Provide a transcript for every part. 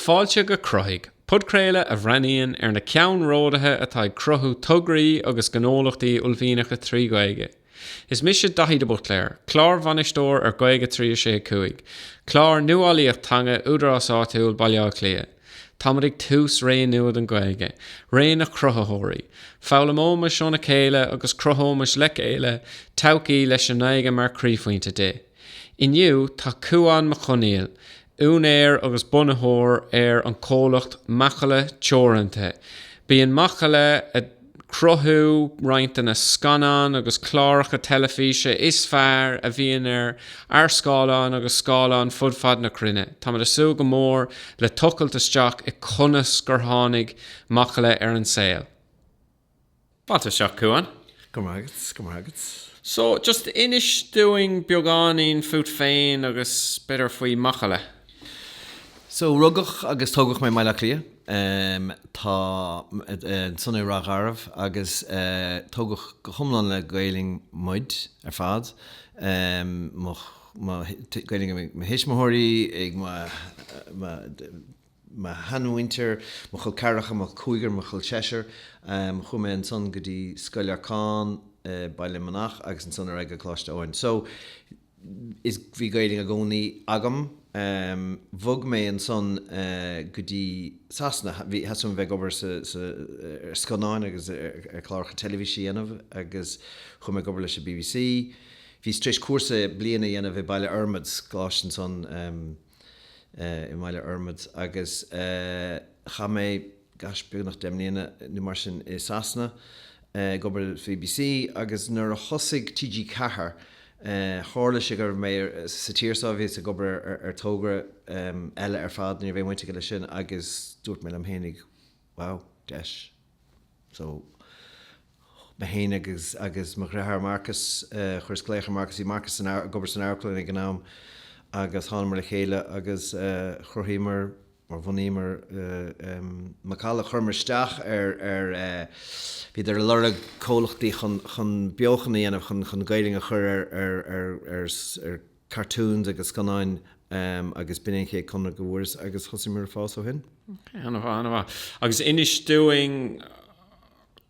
Fáilte go Croitheadh, podchraoladh a bhreathnaíonn ar na ceannródaithe atá ag cruthú tograí agus gnólachtaí uaillmhianacha trí Ghaeilge. Is mise Daithí de Buitléar, Clárbhainisteoir ar Gaeilge 365, clár nuálaíocht teanga Údarás Áitiúil Bhaile Átha Cliath. Táimid ag tús ré nua don Ghaeilge, ré na gcruthaitheoirí. Foghlaimeoimis óna chéile agus cruthóimis le chéile todhchaí leis an nGaeilge mar chroíphointe di. Inniu tá Cuan Mac Conghail, úinéir agus bunaitheoir ar an comhlacht Macalla Teoranta. Bíonn Macalla ag cruthú roinnt de na scannáin agus cláracha teilifíse is fearr a bhíonn ar ár scáileáin agus scáileáin fud fad na cruinne. Táimid ag súil go mór le tochailt isteach i conas gur tháinig Macalla ar an saol. Fantaistic, Cuan. Go raibh maith agat, go raibh maith agat. So, just inis dúinn beagáinín fút féin agus b'fhéidir faoi Macalla. So, rugadh agus tógadh mé i mBaile Átha Cliath. Thall ansan i Ráth Garbh agus tógadh go hiomlán le Gaeilg muid ar fad. Gaeilg ag mo thuismitheoirí, ag mo mo sheanmhuintir, mo chol ceathracha, mo chol cúigear, mo chol seisear. Chuaigh mé ansan go dtí Scoil Lorcáin i Baile na Manach agus ansan ar aghaidh go Coláiste Eoin. So, is, bhí Gaeilg i gcónaí agam. Bhog mé ansan go dtí Sasana, bhí, theastaigh uaim a bheith ag obair sa, sa, ar scannáin agus ar cláracha teilifíse a dhéanamh agus chuaigh mé ag obair leis an BBC. Bhíos tar éis cúrsa bliain a dhéanamh i Baile Fhormaid, Coláiste ansan. i mBaile Fhormaid agus chaith mé beagnach deich mbliana nó mar sin i Sasana ag obair le BBC agus nuair a thosaigh TG Ceathair tharla sé go raibh mé sa tír so bhíos ag obair ar togra eile ar fad, ní raibh aon bhaint aige leis sin, agus dúirt mé liom fhéinig. Wow, deis. So, mé féin agus, agus mo dhriotháir Marcus, chuireas glaoch ar Mharcus, bhí Marcus san, ag obair san amharclann ag an am agus thánamar le chéile agus chruthaíomar, or bhunaíomar Macalla, chuireamar isteach ar, ar, bhíodar ag lorg comhlachtaí chun, chun beochan a dhéanamh, chun, chun Gaeilg a chur ar, ar, ar, ar, ar, cartoons agus scannáin agus b'in é an chéad conradh go bhfuaireas agus thosaíomar ag fás ó shin. Ok, an-mhaith, an-mhaith. Agus inis dúinn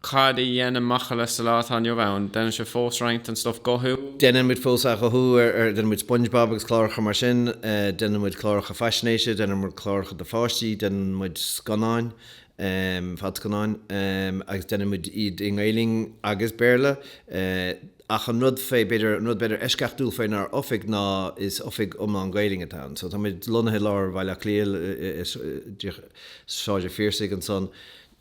cad a dhéanann Macalla sa lá atá inniu ann. Déanann sibh fós roinnt den stuff guthú? Déanann muid fós athghuthú ar, déanann muid Spongebob agus cláracha mar sin, déanann muid cláracha faisnéise, déanann muid cláracha do pháistí, déanann muid scannáin, Ehm, fadscannáin. Ehm, agus deinimid iad i nGaoluinn agus Béarla. Eh, ach an rud faoi, b'fhéidir, an rud b'fhéidir eisceachtúil fénár Oifig ná is Oifig iomlán Gaeilge atá ann. So táimid lonnaithe i lár Bhaile Átha Cliath, eh, Sráid an Phiarsaigh ansan,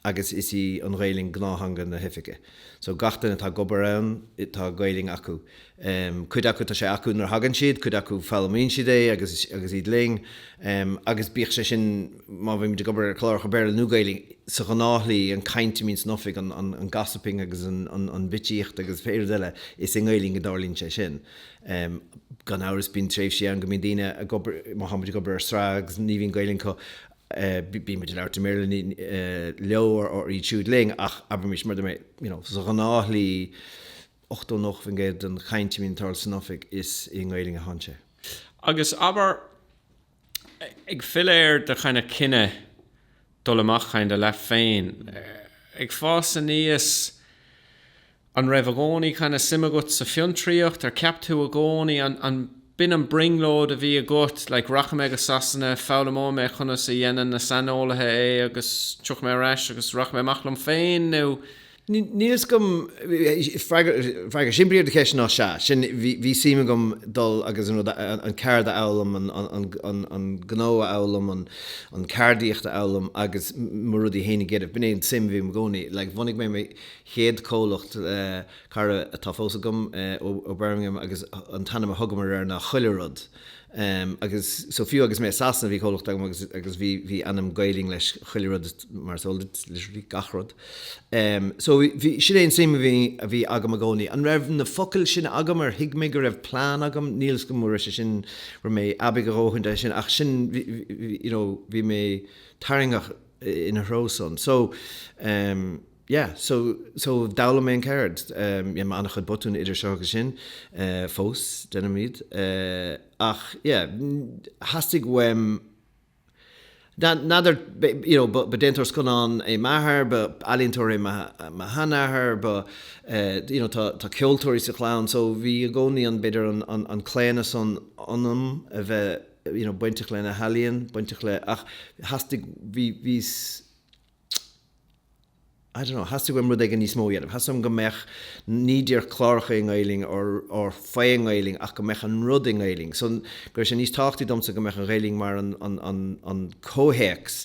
agus is í an Ghaoluinn gnáth-theanga na hOifige. So gach duine atá ag obair ann, tá Gaoluinn acu. Um, cuid acu tá sé acu nuair a thagann siad, cuid acu foghlaimíonn siad é agus, agus iad linn. Um, agus bíodh is sin, má bhímid ag obair ar chláracha Béarla nó Gaelainne, sa ghnáthshlí, an caint a mbíonn san oifig, an, an, an gossiping agus an, an, an bitsíocht agus pé rud eile, is i nGaelainn a dtarlaíonn sé sin. Um, gan amhras bíonn tréimhsí ann go mbíonn daoine ag obair, má táimid ag obair ar sraith agus ní bhíonn Gaeilge acu, eh, bíonn muid ag labhairt i mBéarla, ní, eh, leo or, or iad siúd linn ach abraimís mar, you know, sa ghnáthshlí, 80, 90% den chaint a bhíonn ag tarlú san Oifig is i nGaelainn a théann sé. Agus abair ag filleadh ar do kind of cinneadh dul amach kind of leat féin, ag fás aníos, an raibh i gcónaí kind of suim agat sa fiontraíocht, ar cheap tú i gcónaí, an, ab in an brionglóid a bhí agat, like rachaidh mé go Sasana, foghlaimeoidh mé conas a dhéanann na saineolaithe é agus tiocfaidh mé ar ais agus rachaidh mé amach liom féin nó, Níl 's agam, freagra simplí ar do cheist ná sea, sin, bhí suim agam dul agus an rud, an cheird a fhoghlaim, an gnó a fhoghlaim, an ceardaíocht a fhoghlaim agus mo rudaí féin a dhéanamh, b'in é an tsuim a bhí agam i gcónaí. Like, bhunaigh mé mo chéad comhlacht le cara atá fós agam ó Birmingham agus an t-ainm a thugamar air ná Chuile Rud. Em, agus so fiú agus mé i Sasana bhí comhlucht agam agus, agus bhí, bhí ainm Gaelainn leis chuile rud mar so literally gach rud. Em, so bhí, sin é an suim a bhí, a bhí agam i gcónaí. An raibh na focail sin agam ar thuig mé go raibh plean agam? Níl 's agam an raibh sé sin, raibh mé aibigh a dhóthain chuige sin ach sin bhí, bhí, you know, bhí mé tarraingteach ina threo san. So, em. yeah so so d'fhoghlaim mé an ceird um yeah ana-chuid botún idir seo agus sin eh fós déanaim iad eh ach yeah theastaigh uaim n'fheadar be- you know ba ba déantóir scannán é m'athair ba b'ealaíontóir é mo mo sheanathair ba eh you know tá tá ceoltóirí sa chlann so bhí i gcónaí an b'fhéidir an an an claonadh san ionam a bheith you know bainteach leis na healaíona bainteach le ach theastaigh bhí bhí I don't know, theastaigh uaim rud éigin níos mó a dhéanamh. Theastaigh uaim go mbeadh, ní díreach cláracha i nGaoluinn or, or fé i nGaoluinn ach go mbeadh an rud i nGaoluinn. So, go raibh sé níos tábhachtaí domsa go mbeadh an Ghaoluinn mar an, an, an, an comhthéacs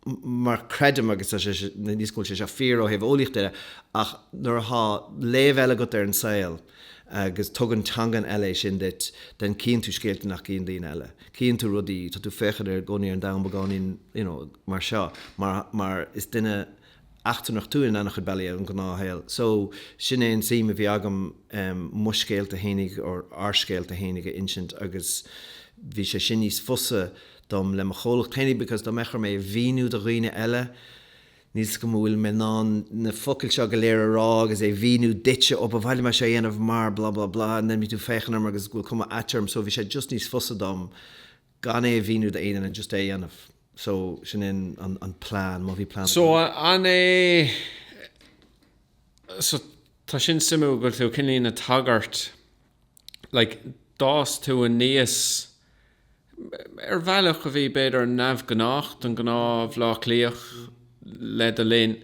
mar creidim, agus tá sé, níl 's agam an bhfuil sé seo fíor ó thaobh eolaíochta de, ach nuair atá léamh eile agat ar an saol, agus tugann teangain eile é sin duit, then cíonn tú scéalta nach gcíonn daoine eile. Cíonn tú rudaí, tá tú féachaint ar i gcónaí ar an domhan beagáinín you know mar seo mar, mar is duine eachtrannach tú in ana-chuid bealaí ar an ngnáthshaol. So, sin é an tsuim a bhí agam em mo scéalta fhéinig or ár scéalta fhéinig a insint agus bhí sé sin níos fusa dom le mo chomhlacht fhéinig because dá mbeadh orm é a mhíniú do dhaoine eile, Níl 's go bhfuil mé in ann na focail seo go léir a rá agus é mhíniú duitse, ó ba mhaith liom é seo a dhéanamh mar blah blah blah and then bhí tú féachain orm agus go bhfuil cuma ait orm so bhí sé just níos fusa dom gan é a mhíniú do aoinne and just é a dhéanamh. So sin é an plean, má bhí plean agam. So an é, so tá sin suimiúil go bhfuil tú cineáilín ag tagairt like, d'fhás tú aníos ar bhealach a bhí, b'fhéidir, neamhghnách don ghnáth-Bhleá Cliathach le do linn.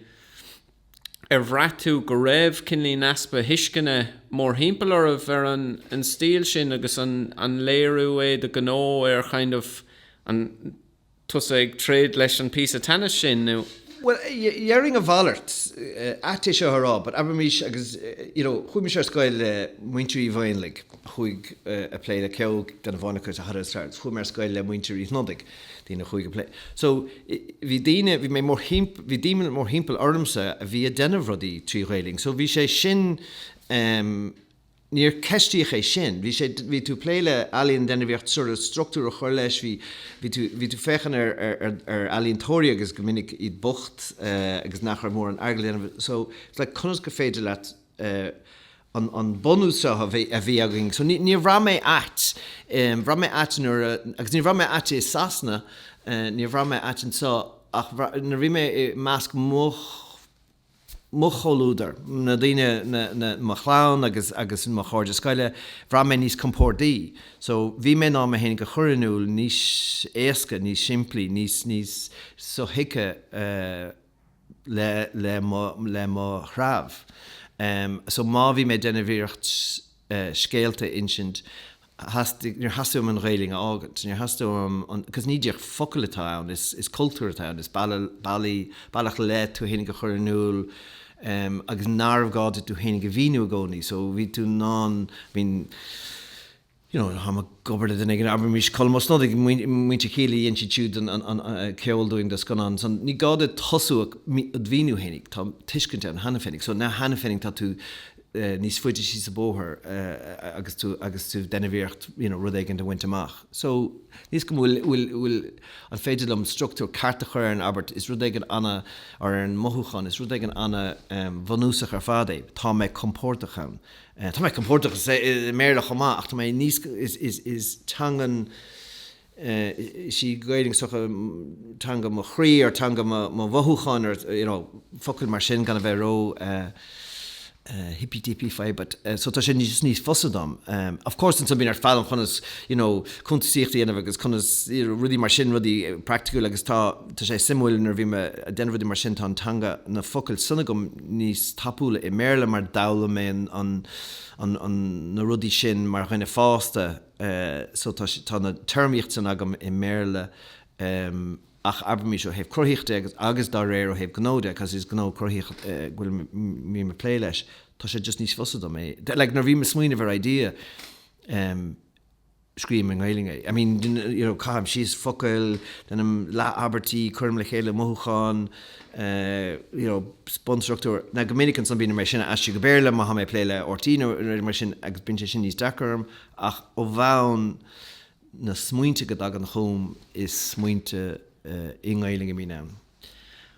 Ar bhraith tú go raibh cineáilín easpa thuisceana mórthimpeall oraibh ar an stíl sin agus an léiriú é do ghnó ar, kind of, an. tusa ag troid leis an píosa teannais sin nó. Bhuel, déarfainn a mhalairt, ait é seo a rá, but abraimís agus, you know, chuaigh mise ar scoil le Muintir Uí Mhaonlaí, chuaigh a' plé le ceol, gan a bheith ionraic, agus a thuras thar, chuaigh mé ar scoil le Muintir Uí Shnodaigh, daoine a chuaigh a' plé. So, bhí daoine, bhí mé mórthimpeall, bhí daoine mórthimpeall ormsa a bhí a' déanamh rudaí trí Ghaeilinn, so bhí sé sin, em, Níor ceistíodh é sin. Bhí sé, bhí tú ag plé le ealaíon déanamh iarracht sort of struchtúr a chur leis, bhí, bhí tú, bhí tú ag féachaint ar, ar, ar, ar ealaíontóirí agus go minic iad bocht agus nach raibh mórán airgead le déanamh so it's like conas gur féidir leat an, an bunús seo a bhí, a bhí againn so ní, níor bhraith mé ait, bhraith mé ait nuair a, agus níor bhraith mé ait i Sasana, níor bhraith mé ait anseo ach nuair a bhí mé i measc mo mo chomhluadar, na daoine, na, na, mo chlann agus, agus mo chairde scoile, bhraith mé níos compórdaí. So, bhí mé in ann mé féinig a chur in iúl níos éasca, níos simplí, níos, níos sothuigthe le, le mo, le mo threabh. So má bhí mé ag déanamh iarracht scéalta a insint, theastaigh, níor theastaigh uaim an Ghaeilinn a fhágaint, níor theastaigh uaim an, because ní díreach focail atá ann, is, is cultúr atá ann, is bealach, bealaí, bealach le tú fhéinig a chur in iúl em agus nárbh gá duit tú fhéinig a mhíniú i gcónaí so bhí tú in ann, I mean, you know táim ag obair le duine éigin, abraimís Colm Ó Snodaigh, muintir Kíla, dhein siad siúd an, an, an, an ceol dúinn do scannán so ní gá duit tosú ag mí, ad mhíniú fhéinig, tá tuiscint ann cheana féinig so now cheana féinig tá tú, níos faide síos an bóthar agus tú, agus tú ag déanamh iarracht you know rud éigin a bhaint amach. So níl a fhios agam an bhfuil, bhfuil, bhfuil, an féidir liom structúr ceart a chur ar an abairt is rud éigin ana, or ar an mothúchán, is rud éigin ana em bhunúsach ar fad é. Tá mé compordach ann. Tá mé compordach i sa i mBéarla chomh maith ach tá mé níos is, is, is teanga is í an Ghaeilge teanga mo chroí or teanga mo mhothúcháin or you know focail mar sin gan a bheith ró hippy dippy faoi but so tá sé just níos fusa dom. Of course ansan bíonn ort foghlaim conas you know cuntasaíocht a dhéanamh agus conas rudaí mar sin rudaí praiticiúla agus tá tá sé suimiúil nuair a bhím ag déanamh rudaí mar sin tá an teanga na focail san agam níos tapúla i mBéarla mar d'fhoghlaim mé an an na rudaí sin mar dhuine fásta eh, so tá sé, tá an téarmaíocht san agam i mBéarla em ach abraimís ó thaobh cruthaíocht de agus, agus dá réir ó thaobh gnó de cause is gnó cruthaitheach eh go bhfuil go mbím ag plé leis, tá sé just níos fusa dom é like nuair a bhím ag smaoineamh ar idea em scríobhaim i nGaeilge é. I mean you know, you know caithim síos focail, déanaim leath abairtí, cuirim le chéile mothúcháin eh you know bunstruchtúr. Now go minic ansan bíonn orm é sin a aistriú go Béarla má tháim ag plé le RTÉ nó rud mar sin agus bíonn sé sin níos deacra orm, Ach ó bhonn, na smaointe go dtagann chugam, is smaointe i nGaelainn a bhíonn ann.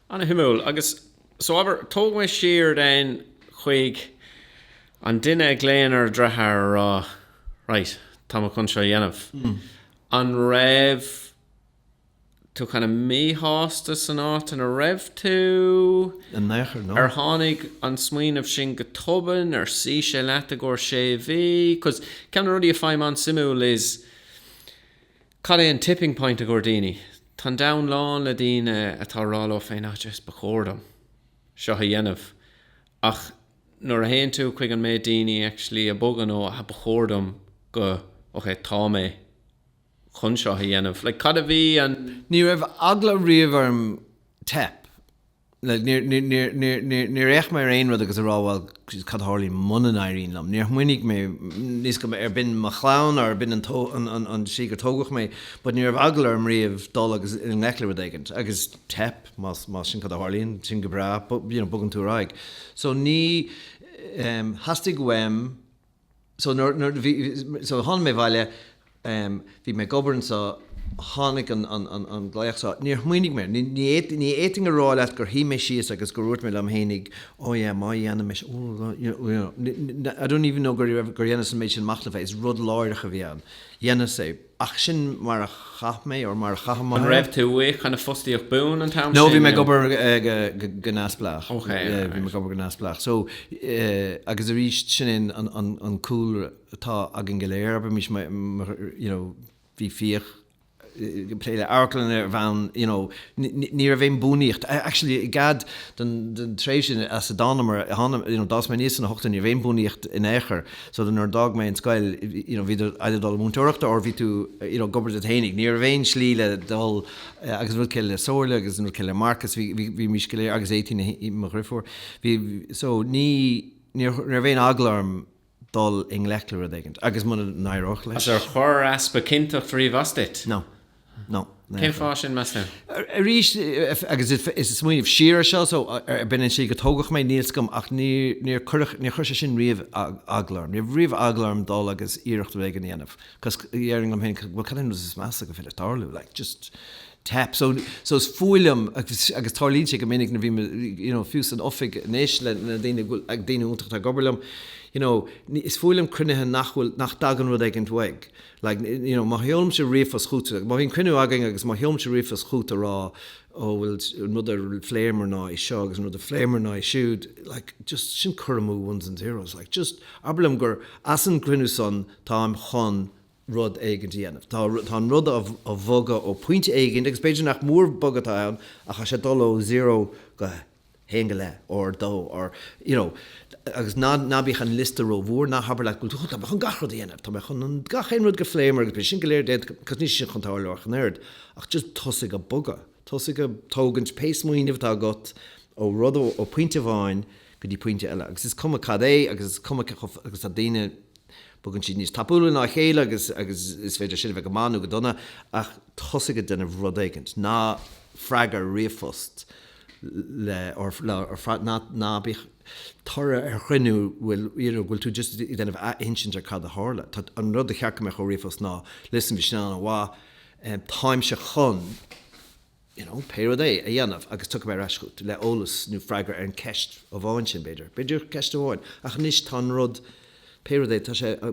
Ana-shuimiúil. Agus so, abair, tóg mé siar then chuig an duine a ghlaonn ar a dhritheár ag rá, Right, tá mé chun seo a dhéanamh. An raibh. tú kind of míshásta san áit ina raibh tú? In aon chor, no. Ar tháinig an smaoineamh sin go tobann? Ar shuigh sé leat i gcomhair sé mhí? Cause ceann de na rudaí a fhaighim an-suimiúil is cad é an tipping point i gcomhair daoine? Tá an domhan lán le daoine atá ag rá leo féin, ah jeez, ba chóir dom seo a dhéanamh. Ach nuair a théann tú chuig an méid daoine actually a bhogann ó ah ba chóir dom go, okay, tá mé. chun seo a dhéanamh. Like cad a bhí an. Ní raibh eagla riamh orm teip. Like níor, níor, níor, níor, níor, níor fhéach mé ar aon rud agus a rá bhuel Jeez cad a tharlaíonn muna n-éiríonn liom. Níor smaoinigh mé níl a fhios agam arb in mo chlann or arb in an tó, an, an, an slí gur tógadh mé but ní raibh eagla orm riamh dul agus i ngleic le rud éigin agus teip más, más sin cad a tharlaíonn sin go breá but you know bogann tú ar aghaidh. So ní, em, theastaigh uaim. so nuair, nuair, bhí, so tháinig mé abhaile, em, bhí mé ag obair anseo, tháinig an, an, an, an glaoch seo, níor smaoinigh mé, ní, ní, ní fhéadfainn a rá leat gur shuigh mé síos agus go ndúirt mé liom fhéinig, oh yeah, má dhéanfaimis, oh, you know, you know, I don't even know gur, gur dhéanas an méid sin machnaimh air, is rud láithreach a bhí ann, dhéanas é. Ach sin mar a chaith mé, or mar a chaithim. An raibh tú i kind of fostaíocht buan an t-am sin? No, bhí mé ag obair go neamhspleách. Ok, alright. Yeah, bhí mé ag obair go neamhspleách. So, agus arís, sin é an cúlra atá againn go léir, abair, bhímis, you know, bhí Fiach ag plé le amharclann ar bhonn, you know, ní raibh aon buanaíocht. Actually, i gcead don dtréimhse as a dtánamar, d'fhás mé aníos sna hochtóidí, ní raibh aon buanaíocht in aon chor. So nuair a d'fhág mé an scoil you know bhí tú either ag dul múinteoireachta or bhí tú you know ag obair duit fhéinig. Ní raibh aon slí le dul eh agus an rud céanna le Somhairle agus an rud céanna le Marcus bhí bhí bhímís go léir agus Éadaoin mo dhriofúr bhí so ní níor ní raibh aon eagla orm dul i ngleic le rud éigint agus muna n-éireodh leis. Ar chuir easpa cinnteacht riamh as duit? No. Cén fáth sin meas tú? Arís, agus mé ag smaoineamh siar ar seo, so, arbh ea an tslí gur tógadh mé, níl 's agam, ach níor cuireadh, níor chuir sé sin riamh eagla orm. Ní raibh riamh eagla orm dul agus iarracht rud éigin a dhéanamh, cos, dhéarfainn liom féin, bhuel cad é an rud is measa gur féidir tarlú, like, just teip. So, so is fuath liom, agus, agus tarlaíonn sé go minic nuair bhím, you know, fiú san oifig anois le, le daoine a bhfuil, daoine iontach atá ag obair liom, you know, is fuath liom cruinnithe nach bhfuil, nach dtagann rud éigin uaidh. Like, you know, má sheolaimse ríomhphost chut, má bhíonn cruinniú againn agus má sheolaimse ríomhphost chut a rá, oh bhuel an rud a phléamar ná é seo agus an rud a phléamar ná é siúd, like, just, sin cur amú ones and zeros, like, just, abair liom gur as an gcruinniú san táim chun rud éigint a dhéanamh. Tá, tá an rud á bhogadh ó phointe éigint agus b'fhéidir nach mór bogadh atá ann ach tá sé ag dul ó zero go, haon go leith, or dó, or, you know, agus ná, ná bíodh an liosta ró-mhór, ná habair leat go bhfuil tú, tá mé chun gach rud a dhéanamh, tá mé chun an, gach aon rud go phléamar agus beidh sé sin go léir déanta, cos níl sé sin chun tarlú ach an oiread, ach just tosaigh a' bogadh, tosaigh a' tógaint pé smaoineamh atá agat ó rud, ó phointe amháin go dtí pointe eile agus is cuma cad é agus is cuma cé chomh, agus tá daoine, bogann siad níos tapúla ná a chéile agus, agus is féidir sin a bheith go maith nó go dona ach tosaigh a' déanamh rud éigint, ná freagair ríomhphost le or ná bíodh toradh ar chruinniú bhfuil you know bhfuil tú just ag déanamh athinsint ar cad a tharla. Tá, an rud ba cheart go mbeadh ó ríomhphost ná listen bhí sin ana mhaith táimse chun you know pé rud é a dhéanamh agus tiocfaidh mé ar ais chugat le eolas nó freagra ar an ceist amháin sin b'fhéidir. B'fhéidir ceist amháin ach anois tá an rud Pé rud é, tá sé, ó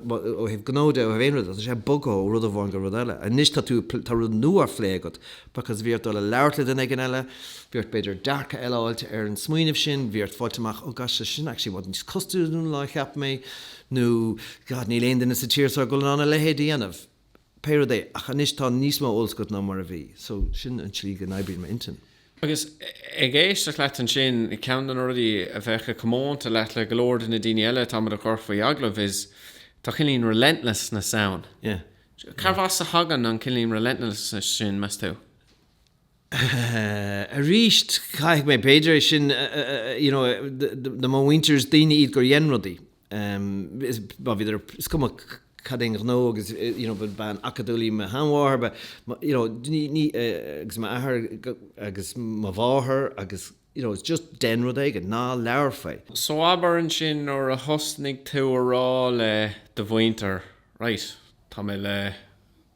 thaobh gnó de, ó thaobh aon rud de, tá sé bogtha ó rud amháin go rud eile. Anois tá tú, tá rud nua á phlé agat, because bhí ort dul a labhairt le duine éigin eile, bhí ort b'fhéidir dearcadh eile a fháilt ar an smaoineamh sin, bhí ort fáilt amach, oh gosh, tá sé sin actually i bhfad níos costasúla ná a cheap mé, nó, God, níl aon duine sa tír so ag dul in ann a leithéid a dhéanamh. pé rud é, ach anois tá níos mó eolas agat ná mar a bhí, so sin an tslí go n-oibríonn m'intinn. Agus ag éisteacht leat ansin, ceann de na rudaí a bheadh a comónta leat le go leor de na daoine eile atáimid a chur faoi agallamh is tá cineál relentlessness ann. Cárbh as a thagann an cineál relentlessness sin, meas tú? Arís, caithfidh mé, b'fhéidir é sin, you know, do mo mhuintir is daoine iad gur dhein rudaí. má bhíodar, is cuma cad é an gnó agus you know ba bean acadúil í mo sheanmháthair ba you know ní agus m'athair agus mo mháthair agus you know just dein rud éigin, ná labhair faoi. So abair ansin nuair a thosnaigh tú a rá le do mhuintir right tá mé le,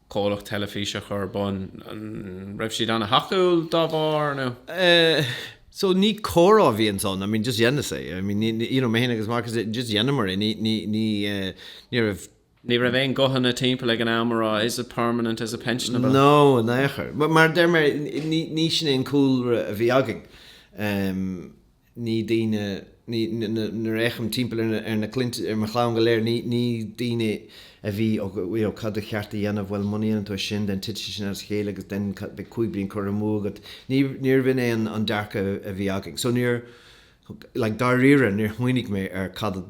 comhlacht teilifíse a chur ar bun. An raibh siad an-thacúil dá bharr nó? Eh, so ní comhrá a bhí ansan, I mean just dheineas é, I mean ní, you know, mé féin agus Marcus, just dheineamar é, ní, ní, ní eh, ní raibh, Ní raibh aon ghuthanna timpeall ag an am a rá is it permanent, is it pensionable? No, in aon chor. Mar a deir mé, ní, ní sin é an cúlra a bhí againn. Em. ní daoine, ní, nuair a fhéachaim timpeall ar na, ar mo chlann go léir, ní daoine a bhí, och, you know, cad ba cheart a dhéanamh, bhuel muna ndéanann tú é sin then titfidh sin as a chéile agus then beidh cúig bliain curtha amú agat, ní, níorbh in é an dearcadh a bhí againn. So níor, like, dáiríre níor smaoinigh mé ar cad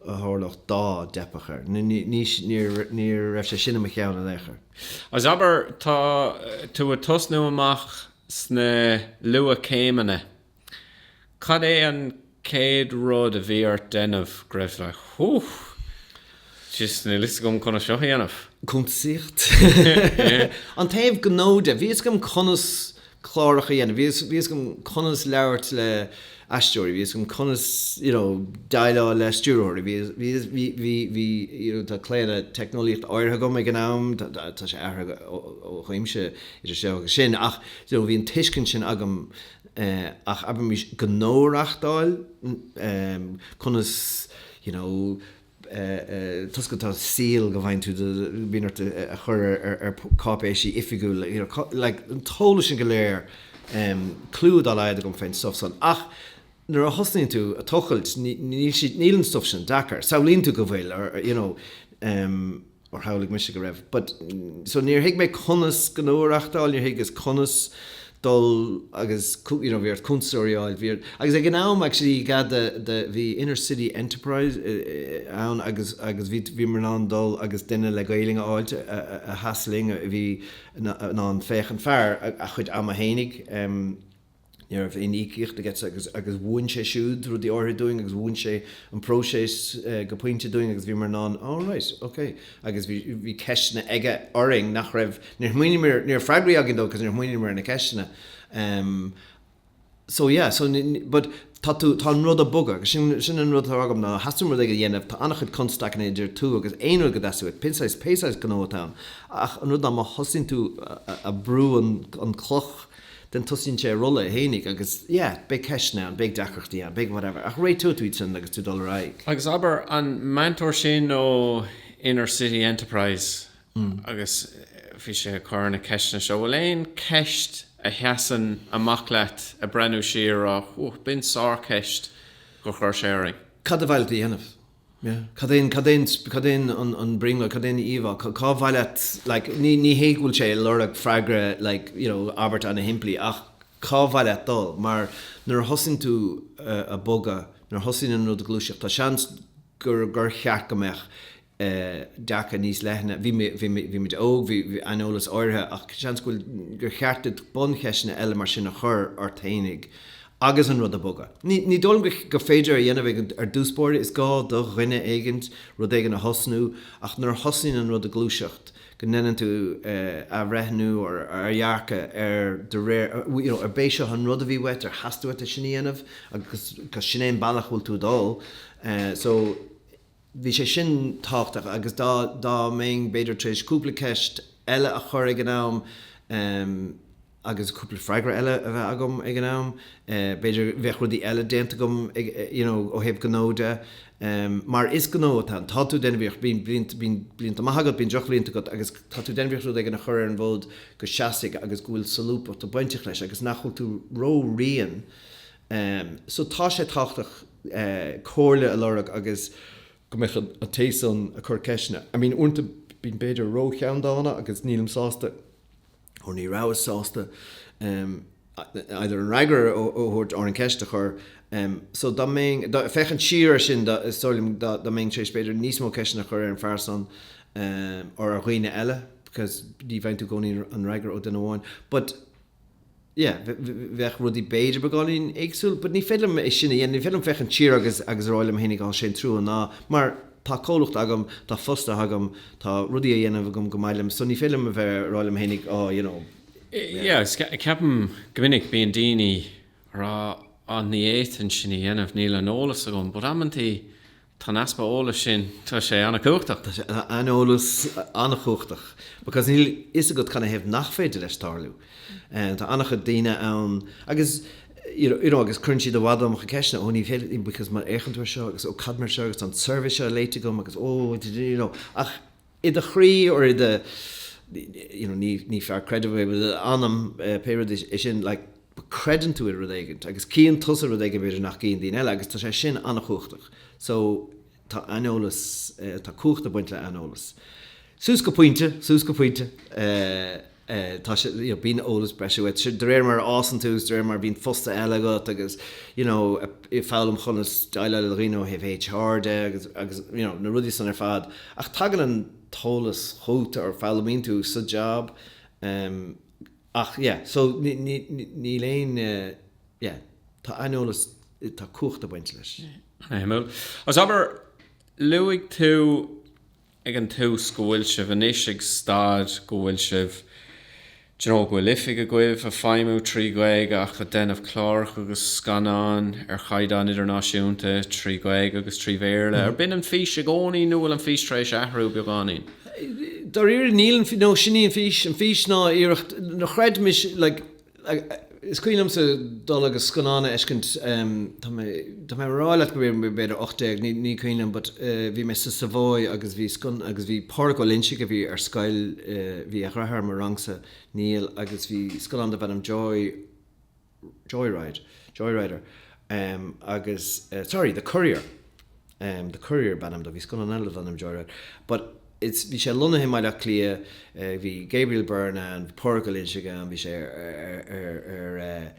a tharlódh dá dteipfeadh air. Ní, ní, ní, níor, ní raibh sé sin i mo cheann in aon chor. Agus abair tá tú ag tosnú amach sna luath-céimeanna. Cad é an céad rud a bhí ort déanamh go raibh tú like huth! Just níl fhios agam conas seo a dhéanamh. Cuntasaíocht. An taobh gnó de. Bhí fhios agam conas cláracha a dhéanamh, bhí fhios agam conas labhairt le aisteoirí, bhí fhios agam conas you know déileáil le stiúrthóirí, bhí bhí bhí you know tá claonadh teicneolaíocht áirithe agam ag an am, tá sé athraithe ó chuimse idir seo agus sin ach you know bhí an tuiscint sin agam Ach abraimís gnó a reachtáil, conas, you know, toisc go, tá séala go bhfaigheann tú do, bíonn ort a chur ar cáipéisí oifigiúla, you know, like an t-eolas sin go léir, clue dá laghad agam fén stuff san ach nuair a thosnaíonn tú a tochailt níl siad, níl an stuff sin deacair. Samhlaíonn tú go bhfuil or, you know. Or shamhlaigh mise go raibh. But, so níor thuig mé conas gnó a reachtáil, níor thuigeas conas dul agus you know bhí ort cuntasóirí a fháil, bhí ort. Agus ag an am actually i gcead the the bhí inner city enterprise ann agus agus bhí bhíomar in ann dul agus duine le Gaoluinn a fháilt a sheas linn a bhí in ann féachaint fear a chuid ama fhéinig. Ní raibh aon íocaíocht agatsa agus mhúin sé siúd rudaí áirithe dúinn agus mhúin sé an próiseas go pointe dúinn agus bhíomar in ann, oh right, ok. Agus bhí ceisteanna aige orainn nach raibh, níor shmaoiníomar, ní raibh freagraí againn dó cos níor shmaoiníomar ar na ceisteanna. Ehm so yeah so but tá tú, tá an rud ag bogadh agus sin, sin an rud atá agam má theastaíonn rud éigin a dhéanamh, tá an-chuid constaicí idir tú agus aon rud go dteastaíonn uait, pé saghas, pé saghas gnó atá ann. Ach an rud ná má thosaíonn tú a a a bhrú an an cloch, then tosaíonn sé ag rolladh fhéinig agus yeah, beidh ceisteanna ann, beidh deacrachtaí ann, beidh whatever ach réiteoidh tú iad sin agus tú dul ar aghaidh. Agus abair an meantóir sin ó Inner City Enterprise agus bhí sé ag cur na ceisteanna seo, bhfuil aon ceist a sheasann amach leat ag breathnú siar á, b'in sár-cheist gur chuir sé orainn. Cad a bheidh tú a dhéanamh? Cad é, cad é, cad é an brionglóid, cad é an íomhá, cá mhaith leat, like, ní, ní hea go bhfuil sé ag lorg freagra like, you know, abairt ana-shimplí ach cá mhaith leat dul mar nuair a thosaíonn tú ag bogadh, nuair a thosaíonn an rud ag gluaiseacht, tá seans gur, gur cheart go mbeadh eh dearcadh níos leithne, bhí mé, bhí mé, bhí muid óg, bhí aineolas áirithe ach seans go bhfuil, gur cheart duit buncheisteanna eile mar sin a chur ort fhéinig agus an rud ag bogadh. Ní dóigh liom gur féidir é a dhéanamh ag ar dtús báire, is gá do dhuine éigin rud éigin a thosnú ach nuair a thosnaíonn an rud ag gluaiseacht go ndeineann tú athbhreithniú ar ar dhearcadh ar de réir you know ar b'é seo an rud a bhí uait ar theastaigh uait é sin a dhéanamh agus sin é an bealach a bhfuil tú ag dul so Bhí sé sin tábhachtach agus dá mbeinn b'fhéidir tar éis cúpla ceist eile a chur ag an am agus cúpla freagra eile a bheith agam ag an am b'fhéidir bheadh rudaí eile déanta agam you know ó thaobh gnó de mar is gnó atá ann. Tá tú déanamh iarracht bíonn blianta maith agat bíonn drochbhlianta agat agus tá tú déanamh iarracht rud éigin a chur ar an bhfód go seasfaidh agus go bhfuil solúbthacht ag bainteach leis agus nach bhfuil tú ró-righin Ehm, so tá sé tábhachtach, eh, comhairle a lorg agus go mbeadh an, an té san ag cur ceisteanna, I mean uaireanta bím b'fhéidir ró cheanndána agus nílim sásta, or ní rabhas sásta, ehm, either an fhreagra a, a thabhairt or an ceist a chur. Ehm, so dá mbeinn, dá, féachaint siar ar sin dá, is dóigh liom dá, dá mbeinn tar éis b'fhéidir níos mó ceisteanna a chur ar an fear san, ehm, or ar dhaoine eile because ní bhfaigheann tú gcónaí an fhreagra ó duine amháin. But. yeah, bheadh rudaí b'fhéidir beagáinín éagsúil, but ní féidir liom é sin a dhéanamh, ní féidir liom féachaint siar agus, agus rá liom fhéinig á sé an trua ná, mar tá comhlucht agam, tá fostaithe agam, tá rudaí á dhéanamh agam gur maith liom so ní féidir liom a bheith rá liom fhéinig oh you know, yeah. Yeah, agus ceapaim go minic bíonn daoine ag rá ah ní fhéadfainn sin a dhéanamh, níl an eolas agam, but amanntaí Tá an easpa eolais sin, tá sé an-chumhachtach. Tá sé, an eolas, an-chumhachtach because níl fhios agat cad na thaobh nach féidir leis tarlú. Tá an-chuid daoine ann agus you know agus cuireann siad i bhfad an iomarca ceisteanna, oh because má fhéachann tú ar seo agus oh cad mar gheall air seo agus tá an survey so léite agam agus oh you know ach i do chroí or i do you know ní ní fear creidimh é but i do anam pé rud é sin like but creideann tú i rud éigint agus cíonn tusa rud éigint b'fhéidir nach gcíonn daoine eile agus tá sé sin an-chumhachtach so tá aineolas tá cumhacht ag baint le aineolas suas go pointe suas go pointe. eh, tá sé, you know, bíonn eolas breise agat, de réir mar a fhásann tú, is de réir mar a bhíonn postanna eile agat agus, you know, ag foghlaim conas déileáil le daoine ó thaobh HR de agus, agus, you know, na rudaí san ar fad. Ach tagann an t-eolas chugat or foghlaimíonn tú sa job. em, ach yeah, so ni, ni, ni, níl aon eh, yeah, tá aineolas, tá cumhacht ag baint leis. Suimiúil. Agus abair, luaigh tú. ag an tús go bhfuil sibh anois ag staid go bhfuil sibh do you know go bhfuil oifig agaibh ag feidhmiú trí Ghaeilge ach ag déanamh cláracha agus scannáin ar chaighdeán idirnáisiúnta trí Ghaeilge agus trí Bhéarla. Arbh in an fís i gcónaí nó bhfuil an fís tar éis athrú beagáinín? Dáiríre níl an fís, no sin í an fís, an fís ná iarracht, ná go gcreidfimis like, Is cuimhin liomsa dul agus scannán a fheiscint, tá mé tá mé a' rá leat go raibh mé b'fhéidir ocht déag, ní ní cuimhin liom but bhí mé sa Savoy agus bhí scann agus bhí Pádraic Ó Loingsigh a bhí ar scoil, bhí a dheartháir i mo rangsa, Niall, agus bhí scannán darb ainm Joy Joyride, Joyrider, agus sorry, The Courier. em The Courier ab ainm dó, bhí scannán eile darb ainm Joyride but it's bhí sé lonnaithe i mBaile Átha Cliath eh bhí Gabriel Byrne ann, bhí Pádraic Ó Loingsigh ann, bhí sé ar ar ar eh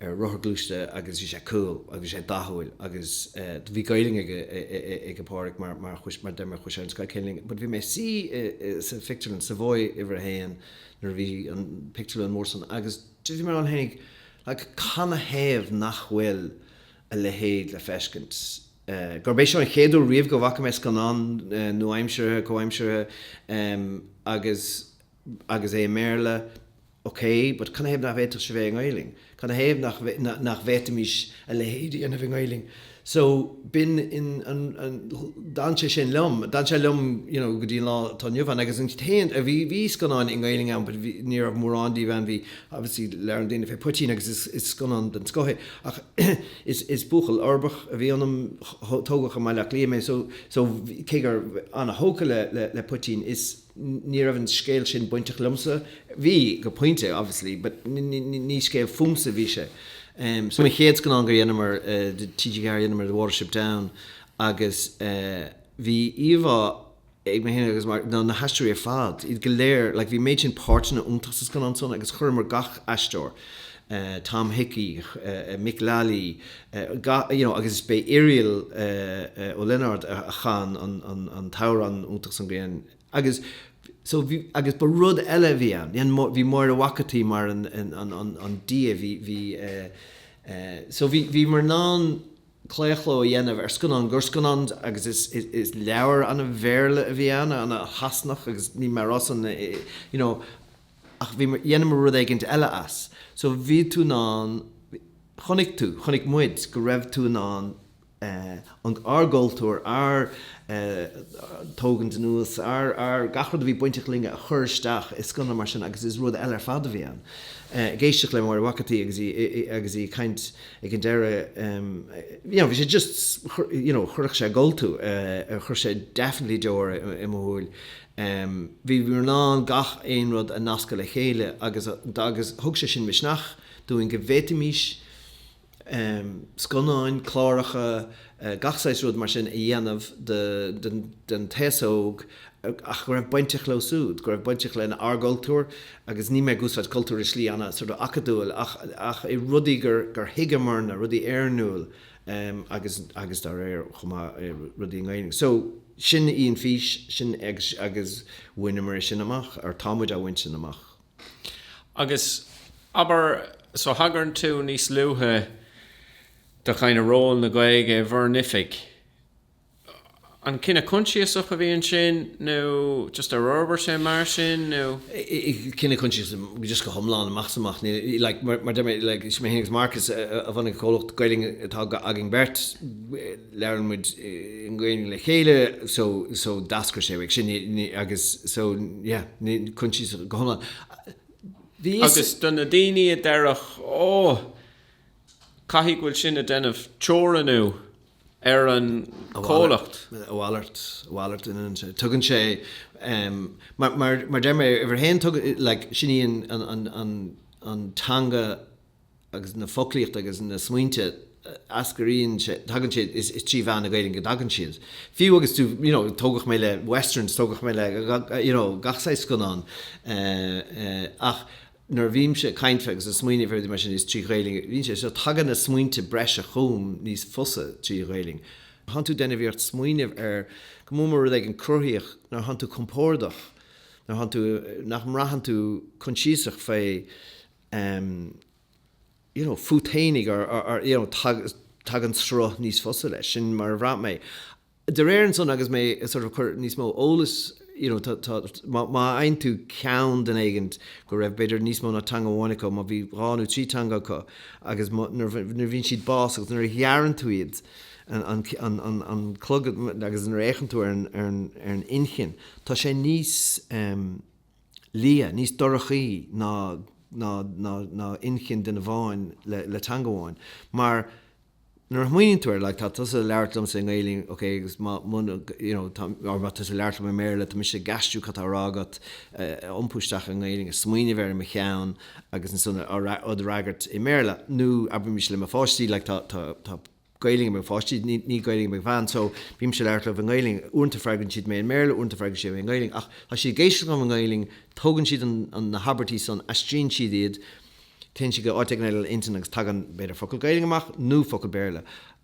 ar rothar gluaiste agus bhí sé cool agus bhí sé dathúil agus eh bhí Gaelainn ag a eh eh eh ag a Pádraic mar mar chuas mar deir mé chuaigh sé ar an scoil chéanna but bhí mé ag suí i i sa phictiúrlann Savoy uimhir a haon nuair a bhí an pictiúrlann mór san agus bhí mé ag smaoineamh like cad na thaobh nach bhfuil a leithéid le feiscint. Gurb é seo an chéad uair riamh go bhfaca mé scannán nua-aimseartha, comhaimseartha, agus agus é i mBéarla, ok, but cad na thaobh nach bhféadfadh sé sin a bheith i nGaelainn? Cad na thaobh nach nach bhféadfaimis a leithéid a dhéanamh i nGaelainn? So, b'in in an an d'fhan sé sin liom. D'fhan sé liom, you know, go dtí an lá atá inniu ann. Agus an t-aon a bhí, bhí scannáin i nGaelainn ann but bhí, ní raibh mórán díobh ann, bhí, obviously, labhrann daoine fé Poitín agus is is scannán den scoth é. Ach is buachaill uirbeach a bhí ionam, tógadh i mBaile Átha Cliath mé, so cé go raibh mé an-thógtha le Poitín, ní raibh an scéal sin bainteach liomsa, bhí go pointe obviously but ní scéal fúmsa a bhí sé. So an chéad scannán gur dheineamar do TG4 dheineamar The Watership Down agus bhí íomhá, ag mé féin agus Mark, na haisteoirí ar fad, iad go léir, like bhí an méid sin páirteanna iontach sa scannán san agus chuireamar gach aisteoir, Tom Hickey, Mick Lally, gach, you know, agus b'é Iarla Ó Lionáird a chan an t-amhrán iontach san Grian agus so bhí, agus ba rud eile a bhí ann, dhein, bhí Máire Mhac an tSaoi mar an, an, an, an, an Dia, bhí, bhí eh, eh, so bhí, bhíomar in ann, claochló a dhéanamh ar scannán gur scannán agus is leabhar an-Bhéarla a bhí ann an-Shasanach agus níl mé á rá san you know ach bhí dheineamar rud éigint eile as so bhí tú in ann chonaic tú chonaic muid go raibh tú in ann an ár gcultúr ár tógaint anuas ár ár gach rud a bhí bainteach linn a chur isteach i scannán mar sin agus is rud eile ar fad a bhí ann ag éisteacht le Máire Mhac an tSaoi agus í agus í ag caint ag an deireadh you know bhí sé just you know chuirfeadh sé ag gol tú eh chuir sé definitely deor i mo shúil em bhí bhí in ann gach aon rud a nascadh le chéile agus a agus thug sé sin misneach dúinn go bhféadfaimís em scannáin cláracha gach saghas rud mar sin a dhéanamh don aos óg ach go raibh bainteach leo súd, go raibh bainteach len ár gcultúr agus níl mé ag úsáid cultúr i slí ana sort of acadúil ach ach i rudaí gur gur thuigeamarna, rudaí oiriúnach em agus agus dá réir chomh maith rudaí i nGaelainn. So sin í an fís, sin agus agus bhaineamar é sin amach or táimid á bhaint sin amach. Agus abair so thagairn tú níos luaithe, do chineál ról na Gaeilge i bhur n-oifig. An cinneadh consiasach a bhí ansin nó just ar fhorbair sé mar sin nó? Cinneadh consiasach just go hiomlán amach 's amach. Níl like mar mar a deir mé like is mé fhéin agus Marcus a bhunaigh an comhlacht Gaeilge atá againn beirt. Labhrann muid i nGaelainn le chéile so so d'eascair sé as sin ní agus so yeah ní consiasach go hiomlán. Bhí fhios. Agus do na daoine a deirfeadh, oh, Caithfidh go bhfuil sin ag déanamh teorannú ar an gcomhlacht. A mhalairt, a mhalairt. Tugann sé, mar deir mé, uimhir a haon, like, sin í an teanga agus na foclaíocht agus na smaointe a eascraíonn as, tagann siad, is trí mheán na Gaelainne go dtagann siad. Fiú agus tú, you know, tógadh mé le westerns, tógadh mé le, you know, gach saghas scannán, ach, Nuair a bhímse ag caint agus ag smaoineamh ar rudaí mar sin is trí Ghaeilge a bhíonn sé so tagann na smaointe is breis chugam níos fusa trí Ghaeilge. Thánn tú den ag iarraidh bheith ag smaoineamh ar go mór mór rud éigin cruthaitheach nuair thánn tú compórdach, nuair thánn tú, nach mbraitheann tú coinsiasach fé em you know fút fhéinig or or you know tagann sruth níos fusa leis. Sin mar a bhraith mé. De réir ansan agus mé sort of cur níos mó eolas you know tá tá má má fhaigheann tú ceann duine éigin go raibh b'fhéidir níos mó ná teanga amháin acu má bhí dhá nó trí teanga acu agus má nuair bhí nuair bhíonn siad bás agus nuair a ghearrann tú iad an an an an an clog agus nuair fhéachann tú ar an ar an ar an inchinn tá sé níos ehm liath níos dorchaí ná ná ná ná inchinn duine a bhfuil le le teanga amháin mar Nuair a shmaoiníonn tú ar like tá tusa labhairt liomsa i nGaelainn ok agus má mhun you know tá or má tá tusa labhairt liom i mBéarla tá mise ag aistriú cad tá a rá agat a iompú isteach i nGaelainn agus smaoineamh air i mo cheann agus ansan a fhreagairt a fhreagairt i mBéarla nó abraímis le mo pháistí like tá tá tá Gaelainn ag mo pháistí níl níl Gaelainn ag mo bhean so bímse ag labhairt leo i nGaelainn. Uaireanta freagraíonn siad mé i mBéarla uaireanta freagraíonn siad mé i nGaelainn ach tá siad ag éisteacht liom i nGaelainn tógann siad an na habairtí san aistríonn siad iad téann siad go áit éigin eile ina intinn agus tagann b'fhéidir focal Gaeilge amach nó focal Béarla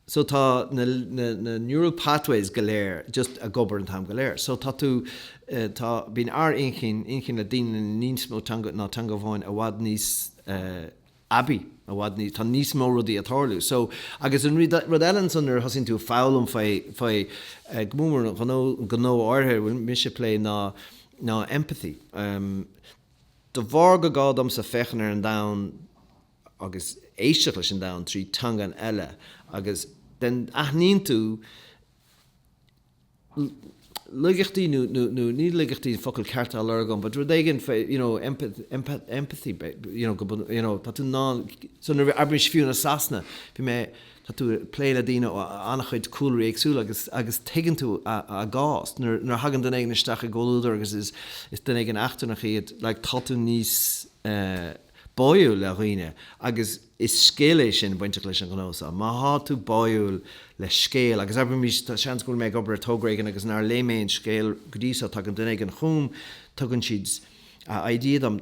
so tá na na na neural pathways go léir just ag obair an t-am go léir so tá tú eh, tá bíonn ár inchinn inchinn le daoine na níos mó teanga ná teanga amháin i bhfad níos eh, aibí i bhfad ní tá níos mó rudaí ag tarlú so agus an rud rud eile ansan nuair thosaíonn tú foghlaim fé fé eh, go mórmhór an ghnó an gnó áirithe bhfuil mise plé ná ná empathy um, De bharr gur gá domsa féachaint ar an domhan agus éisteacht leis an domhan trí teanga eile agus den aithníonn tú laigeachtaí nó nó ní laigeachtaí focal ceart á lorg agam but rud éigin fé you know empathy you know go you know tá tú in ann so nuair a abraímis fiú i Sasana bhí mé Tá tú ag plé le daoine ó an-chuid cúlraí éagsúla agus tuigeann tú a gcás. Nuair a thagann duine éigin isteach i gcomhluadar agus is duine éigin eachtrannach iad, tá tú níos báúil le daoine agus is scil é sin bainteach leis an ghnó seo. Má thá tú báúil le scéal, agus abraimís, seans go bhfuil mé ag obair ar togra éigin agus nár léigh mé aon scéal go dtí seo, tagann duine éigin chugam, tugann siad a idea dom,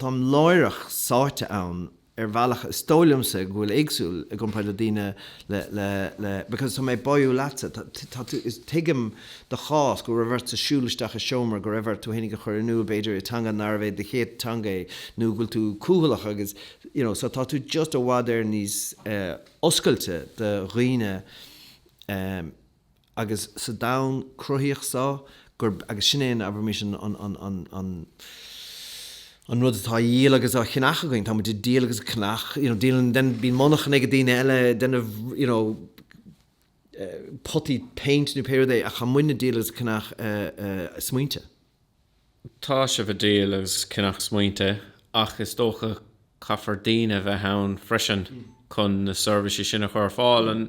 táim láithreach sáite ann. ar bhealach is dóigh liomsa go bhfuil éagsúil i gcomparáid le daoine le le le because tá mé báúil leatsa tá tá tú is tuigim do chás go raibh ortsa siúl isteach i seomra go raibh ort tú fhéinig a chur in iúl b'fhéidir i teanga nárbh é do chéad teanga é nó go bhfuil tú cúthalach agus you know so tá tú just i bhfad níos oscailte do dhaoine agus sa domhan cruthaíoch so, gur, agus sin é an, abraimís, an, an, an, an, an, an rud atá á dhíol agus á cheannach againn, táimid ag díol agus ag ceannach, you know, díolann, then, bíonn monarchana ag daoine eile, then, you know, eh, potaí péint nó pé rud é, ach tá muidne ag díol agus ag ceannach eh, eh, smaointe. Tá sibh a díol agus a ceannach smaointe ach is dócha caithfear daoine a bheith ann freisin chun na seirbhísí sin a chur ar fáil. An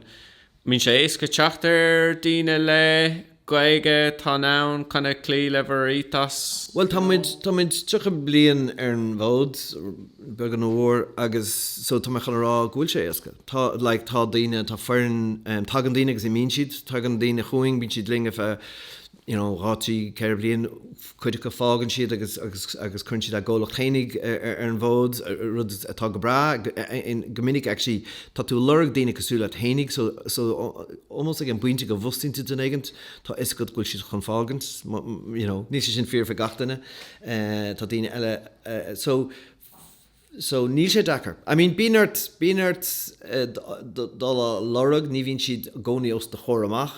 mbíonn sé éasca teacht ar daoine le Gaeilge atá in ann kind of cloí le bhur ethos? Bhuel tá muid, tá muid tríocha bliain ar an bhfód, beagán nó mór, agus so tá mé chun a rá go bhfuil sé éasca. Tá like tá daoine, tá foireann, tagann daoine agus imíonn siad, tagann daoine chugainn, bíonn siad linn ar feadh, you know, dhá, trí, ceithre bliain, cuid acu fágann siad agus, agus, agus cuireann siad a gcomhlacht féinig ar, ar, ar an bhfód, rud atá go breá, in, go minic actually tá tú a' lorg daoine cosúil leat féinig so, so almost ag an bpointe go bhfostaíonn tú duine éigint tá fhios agat go bhfuil siad chun fágaint, you know, níl sé sin fíor fé gach duine, eh, tá daoine eile, eh, so. So níl sé deacair. I mean bíonn ort, bíonn ort dul á lorg, ní bhíonn siad i gcónaí os do chomhair amach.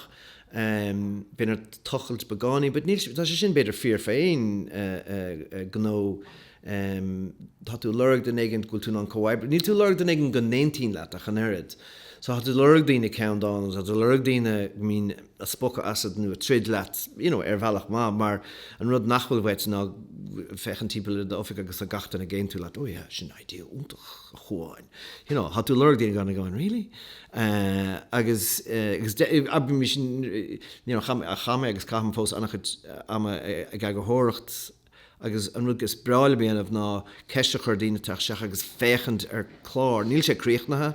Bíonn ort tochailt beagáinín but níl, tá sé sin b'fhéidir fíor fé aon gnó. Tá tú ag lorg duine éigint go bhfuil tú in ann comhoibriú, níl tú ag lorg duine éigint go n-aontaíonn leat ach an oiread. So tá tú ag lorg daoine ceanndána, tá tú ag lorg daoine go mbíonn, a spochadh asat nó a troid leat, you know, ar bhealach maith mar an rud nach bhfuil uait ná féachaint timpeall ar d'oifig agus tá gach duine ag aontú leat, oh yeah, sin idea iontach a Chúáin, you know, tá tú ag lorg daoine gan a gcáin, really? Eh, agus, eh, agus de, abraimís, you know, chaith, chaith mé agus caithim fós an-chuid ama ag eagarthóireacht, agus an rud is breá liom a dhéanamh ná ceist a chur ar dhaoine teacht isteach agus féachaint ar chlár. Níl sé críochnaithe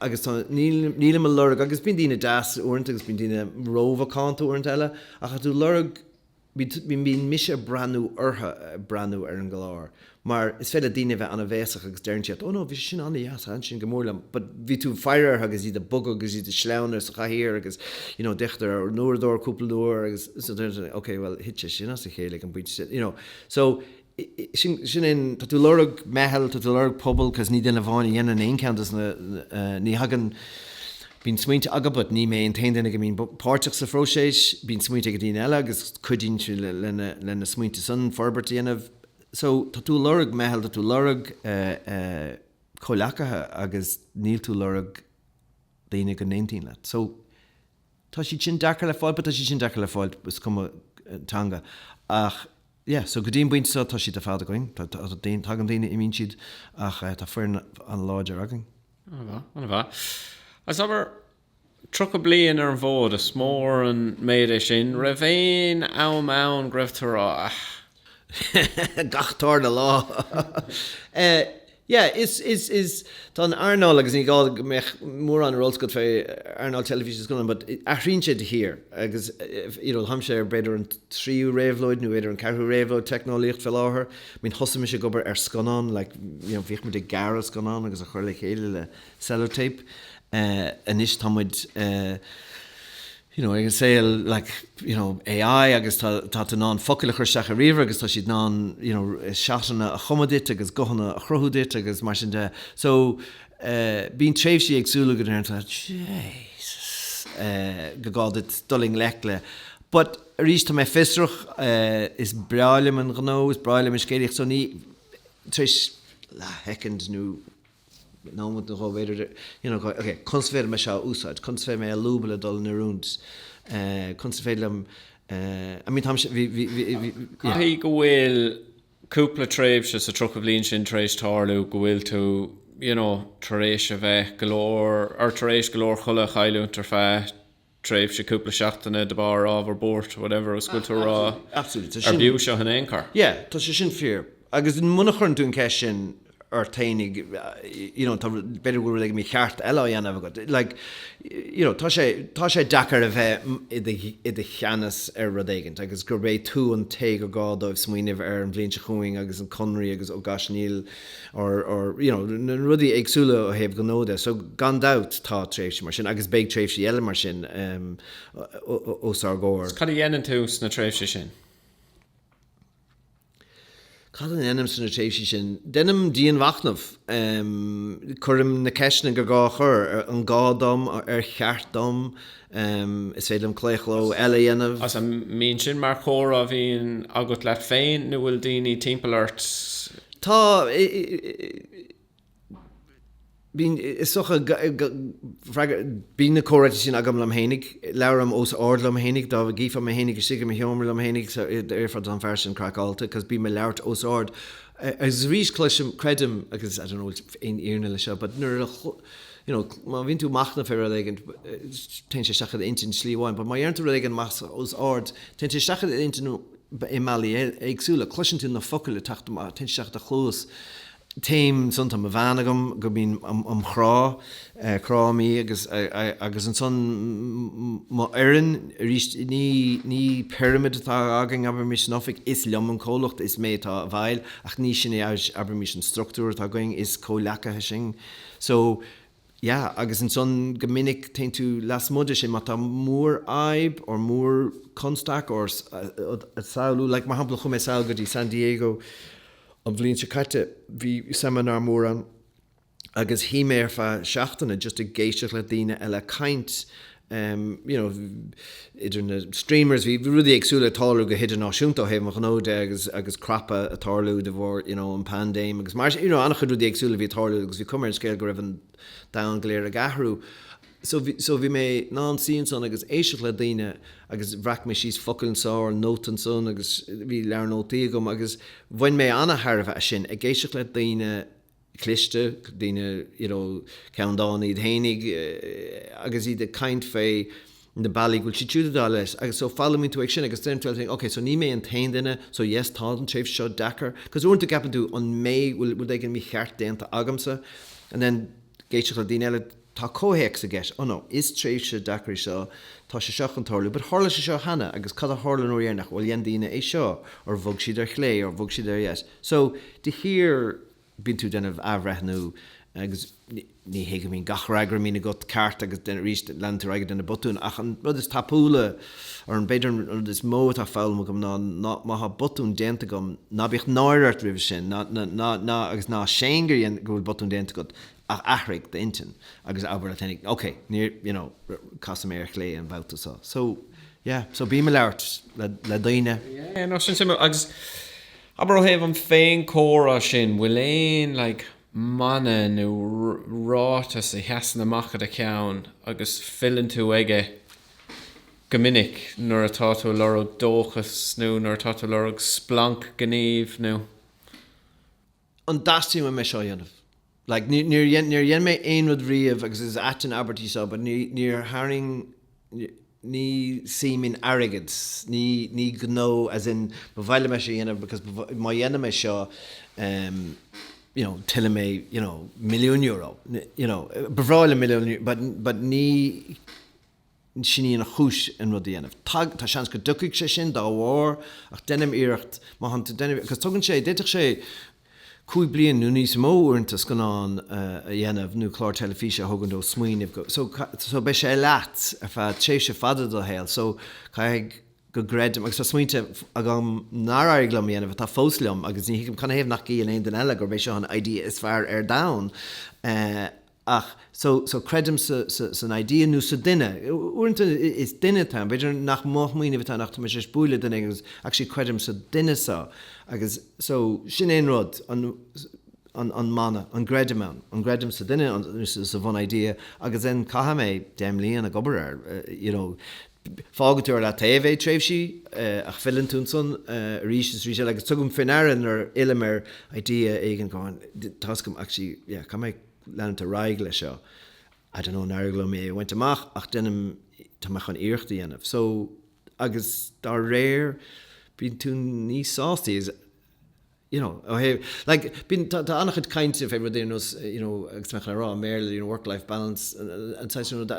agus tá nílim a lorg agus bíonn daoine deas uaireanta agus bíonn daoine rómhacánta uaireanta eile ach tá tú lorg bíonn bíonn mise a breathnú ortha a breathnú ar an gclár. Mar is féidir le daoine a bheith an-bhéasach agus deireann siad, oh no, bhí sé sin an-deas, thaithin sin go mór liom, but bhí tú ag faire orthu agus iad ag bogadh agus iad ag sleamhnú sa chathaoir agus you know d'fhéachadar ar an uaireadóir cúpla uair agus so deireann siad, ok, bhuel thit sé sin as a chéile ag an bpointe sin, you know. So, sin, sin é an, tá tú ag lorg meitheal, tá tú ag lorg pobal cause ní duine amháin a dhéanann aon cheann dos na, ní thagann, bíonn smaointe agam but ní mé an t-aon duine go mbíonn páirteach sa phróiseas, bíonn smaointe ag daoine eile agus cuidíonn siad le na, le na smaointe san forbairt a dhéanamh. So, tá tú a lorg meitheal, tá tú a lorg comhleacaithe agus níl tú a lorg daoine go n-aontaíonn leat. So, tá siad sin deacair le fáil but tá siad sin deacair le fáil is cuma teanga. Ach, yeah, so go dtí an bpointe seo tá siad ar fad againn. Tá, tá, tagann daoine, imíonn siad ach tá foireann an-láidir againn. Ana mhaith, ana mhaith. As ever, Tríocha bliain ar an bhfód, is mór an méid é sin. An raibh aon am ann go raibh tar a. gach tarna lá. Yeah, is, is, is, tá an earnáil, agus ní gá go mbeadh mórán ar eolas agat fé earnáil na teilifíse is scannáin but athraíonn sé de shíor agus you know táimse ar b'fhéidir an tríú réabhlóid nó b'fhéidir an ceathrú réabhlóid teicneolaíocht fé láthair. I mean thosaigh mise ag obair ar scannán like you know bhímis ag gearradh scannán agus á chur le chéile le sellotape anois tá muid you know ag an saol like you know AI agus tá tá tú in ann focail a chur isteach i ríomhaire agus tá siad in ann you know seatanna a chumadh duit agus guthanna a chruthú duit agus mar sin de so bíonn tréimhsí éagsúla go ndeireann tú Jesus eh gur gá duit dul i ngleic le but arís tá mé fiosrach is breá liom an gnó is breá liom an scéalaíocht so níl tar éis leath shoicind nó Nó an chomh b'fhéidir, you know, ok, conas is féidir liom é seo a úsáid, conas is féidir liom é a lúbadh le dul in oiriúint, conas is féidir liom, I mean, táim, bhí, bhí, bhí, bhí, bhí. Caithfidh go bhfuil cúpla tréimhse sa tríocha bhliain sin tar éis tarlú go bhfuil tú, you know, tar éis a bheith go leor, or tar éis go leor codladh a chailliúint ar feadh tréimhse cúpla seachtaine de bharr ábhar buairt, whatever agus tú ag rá arbh fhiú seo in aon chor. Yeah, tá sé sin fíor. Agus muna chuireann tú an ceist sin ort féin, you know, b'fhéidir go bhfuil rud éigin mícheart eile á dhéanamh agat. Like, you know, tá sé deacair a bheith i do cheannas ar rud éigin agus gurb é tú an té gur gá dóibh smaoineamh ar an bhliain seo chugainn agus na conarthaí agus, oh gosh, níl. or, or you know, na rudaí éagsúla ó thaobh gnó de. So gan dabht tá tréimhsí mar sin agus beidh tréimhsí eile mar sin os ár gcomhair. Cad a dhéanann tú sna tréimhsí sin? Cad a dhéanaim sna tréimhsí sin? Déanaim dianmhachnamh. Cuirim na ceisteanna gur gá a chur, an gá dom, ar cheart dom, Is féidir liom claochlú eile a dhéanamh. Sea, an mbíonn sin mar chomhrá a bhíonn agat leat féin nó an bhfuil daoine timpeall ort? Tá, bíonn, is dócha, freagra, bíonn na comhráite sin agam liom fhéinig. Labhraím os ard liom fhéinig, dá gcífeá mé fhéinig istigh i mo sheomra liom fhéinig déarfá tá an fear sin craiceáilte cos bím ag labhairt os ard. Agus arís cloisim, creidim, agus I don't know an bhfuil aon fhírinne leis seo but nuair a, you know má bhíonn tú ag machnamh ar rud éigin téann sé isteach i d'intinn slí amháin, but má deireann tú rud éigin amach os ard téann sé isteach i d'intinn i mbealaí éagsúla. Cloiseann tú na focail ag teacht amach, téann sé isteach i do chluas. Téim ansan, tá mo bhean agam go mbím á crá, cráim í agus agus ansan mo fhoireann, arís ní ní pyramid atá againn abraimís san oifig, is liom an comhlucht, is mé atá i bhfeighil ach ní sin é abraimís an structúr atá againn, is comhleacaithe sinn. So, yeah, agus ansan go minic téann tú lasmuigh de sin, má tá mór-fhadhb or mór-chonstaic or rud a shamhlú, like, mar shampla chuaigh mé sall go dtí San Diego an bhliain seo caite, bhí seimineár mór ann agus shuigh mé ar feadh seachtaine just ag éisteacht le daoine eile ag caint, you know idir na streamers bhí rudaí éagsúla ag tarlú go hidirnáisiúnta ó thaobh an ghnó de agus agus crapadh ag tarlú de bharr you know an pandéim agus mar sin you know an-chuid rudaí éagsúla a bhí ag tarlú agus bhí cuma ar an scéal go raibh an domhan go léir ag athrú so bhí so bhí mé i mo shuí ansan ag éisteacht le daoine agus bhreac mé síos focal anso or note ansan agus bhí leabhar nótaí agam agus bhain mé an-tairbhe as sin ag éisteacht le daoine a cliste, daoine you know ceanndána iad fhéinig agus iad ag caint fé na bealaí go bhfuil siad siúd ag dul leis agus so foghlaimíonn tú ag sin agus then you think ok so ní mé an t-aon duine so yes tá an tréimhse seo deacair because uaireanta ceapann tú an mé bhfuil rud éigin mícheart déanta agamsa and then ag éisteacht le daoine eile Tá comhthéacs i gceist. Oh no, is tréimhse deacair í seo, tá sé seo chun tarlú, but tharla sé seo cheana agus cad a tharla an uair dheireanach, bhuel dhein daoine é seo or bhog siad ar chlé or bhog siad ar dheis. So de shíor bíonn tú ag déanamh athbhreithniú agus ní hé go mbíonn gach freagra a bhíonn agat ceart agus arís leanann tú ar aghaidh ag déanamh botún ach an rud is tábhachtaí or b'fhéidir an rud is mó atá foghlamtha agam ná má tá botún déanta agam ná bíodh náire ort roimis sin agus ná séan gur dhein, go bhfuil botún déanta agat. Ach athraigh d'intinn agus abair leat féinig, OK, níor, you know, casfaidh mé ar chlé an babhta so. So, yeah, so bím ag labhairt le daoine. Yeah, no, sin suimiúil. Agus abair ó thaobh an fhéinchomhrá sin, bhfuil aon, like, mana nó ráiteas a sheasann amach i do cheann agus filleann tú aige go minic nuair atá tú ag lorg dóchais nó nuair atá tú ag lorg splanc gnímh nó. an dteastaíonn uaim é seo a dhéanamh? Like, níor dhein, níor dhein mé aon rud riamh agus is ait an abairt í seo but ní, níor tharraing, ní suim in airgead, ní, ní gnó as in ba mhaith liom é seo a dhéanamh because ba mhaith, má dhéanaim é seo em you know tuillfidh mé you know milliún euro, you know ba bhreá liom milliún but, but ní, Sin í an chúis chun rud a dhéanamh. Tá seans go dtiocfaidh sé sin dá bharr ach deinim iarracht má thánn tú deinim agus tógann sé, d'fhéadfadh sé cúig bliana nó níos mó uaireanta scannán a dhéanamh nó clár teilifíse a thógaint ó smaoineamh go, so, so beidh sé leat ar feadh tréimhse fada ded shaol so caithfidh go gcreidim agus tá smaointe agam nár éirigh liom a dhéanamh atá fós liom agus ní thuigim canathaobh nach gcíonn aon duine eile gurb é seo an idea is fearr ar domhan eh. Ach so so creidim sa sa san idea nó sa duine. Uaireanta is duine atá ann. B'fhéidir nach mo smaoineamhsa atá ann ach tá mise tar éis bualadh le duine éigin agus actually creidim sa duine so agus so sin é an rud an an an mana an gcreidim ann. An gcreidim sa duine nó sa bhun idea agus then caithfidh mé deich mbliana ag obair air you know. Fágfaidh tú ar leataobh é tréimhsí ach filleann tú ansan arís is arís eile agus tugaim faoi ndeara nuair a fhillim ar idea éigin go oh tá's agam actually yeah caithfidh mé leanúint ar aghaidh leis seo I don't know an éireoidh liom é a bhaint amach ach déanaim tá mé chun iarracht a dhéanamh so agus dá réir bíonn tú níos sástaí is you know ó thaobh like bíonn tá tá an-chuid cainte fé rud ar nós you know agus mé chun rá i mBéarla you know work life balance an saghas rud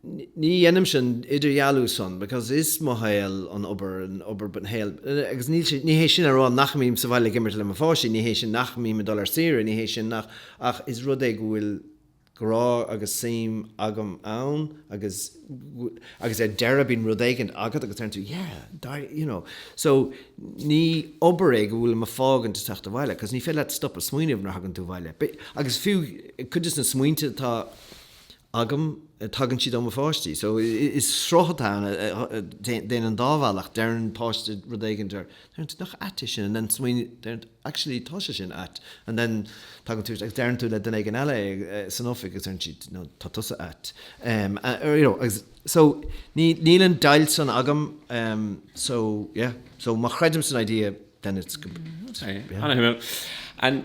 ní dhéanaimse an t-idirdhealú san because is mo shaol an obair, an obair an shaol agus níl sé, ní hé sin le rá nach mbím sa bhaile ag imirt le mo pháistí, ní hé sin nach mbím ag dul ar saoire, ní hé sin nach, ach is rud é go bhfuil grá agus suim agam ann agus, agus ar deireadh bíonn rud éigin agat agus deireann tú yeah, dar, you know. So ní obair é go bhfuilim ag fágaint ag teacht abhaile because ní féidir leat stopadh smaoineamh nuair a thagann tú abhaile. Agus fiú cuid de na smaointe atá, agam, tagann siad ó mo pháistí. So, is sruth atá ann a théann an dá bhealach. Deireann páiste rud éigin, deireann tú nach ait é sin and then smaoiníonn, deireann tú actually tá sé sin ait and then tagann tú agus deireann tú le duine éigin eile é san oifig agus deireann siad no tá tusa ait. You know, agus so níl an deighilt san agam so yeah, so má chreidim san idea then it's, yeah. An-shuimiúil.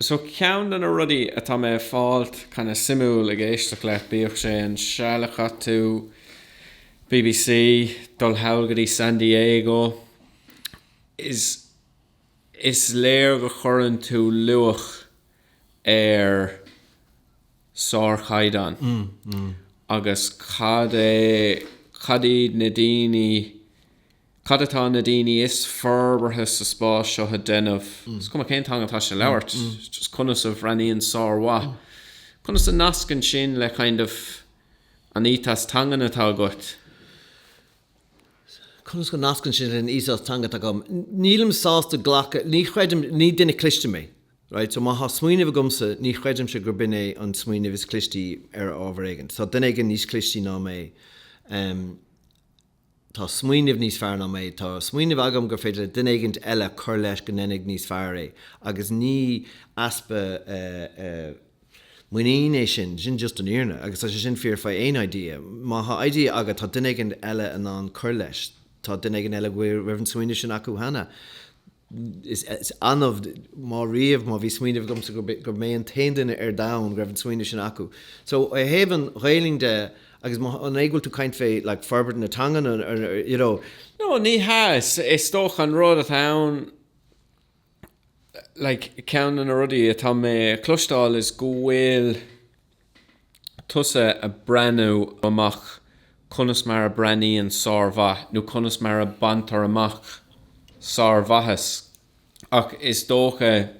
So ceann de na rudaí atá mé ag fáilt kind of suimiúil ag éisteacht leat, bíodh sé an seal a chaith tú BBC, dul thall go dtí San Diego, is is léir go gcuireann tú luach ar sárchaighdeán agus cad é, cad iad na daoine, Cad atá na daoine is forbartha sa spás seo a dhéanamh? Is cuma cén teanga atá siad a labhairt, just conas a bhreathnaíonn sármhaith, conas a nascann sin le kind of an ethos teangan atá agat? Conas go nascann sin leis an ethos teanga atá agam? Nílim sásta glacadh, ní chreidim, ní duine cliste mé, right, so má tá smaoineamh agamsa ní chreidimse gurb in é an smaoineamh is cliste ar ábhar éigin. Tá duine éigin níos cliste ná mé. tá smaoineamh níos fearr ná é, tá smaoineamh agam gur féidir le duine éigint eile cur leis go ndéanfaidh níos fearr é agus ní easpa muinín é sin, sin just an fhírinne agus tá sé sin fíor faoi aon idea, má thá idea agat tá duine éigint eile in ann cur leis, tá duine éigint eile go bhfuil, raibh an smaoineamh sin acu cheana. Is annamh má riamh má bhí smaoineamh agamsa gur mé an t-aon duine ar domhan go raibh an smaoineamh sin acu. So ó thaobh an Ghaelainn de agus má, an é go bhfuil tú caint fé like forbairt na teangan or you know, No, ní hea, is dócha an rud atá ann like ceann de na rudaí atá mé a cloisteáil is go bhfuil, tusa a breathnú amach conas mar a breathnaíonn sármhaith, nó conas mar a baintear amach sármhaitheas, ach is dócha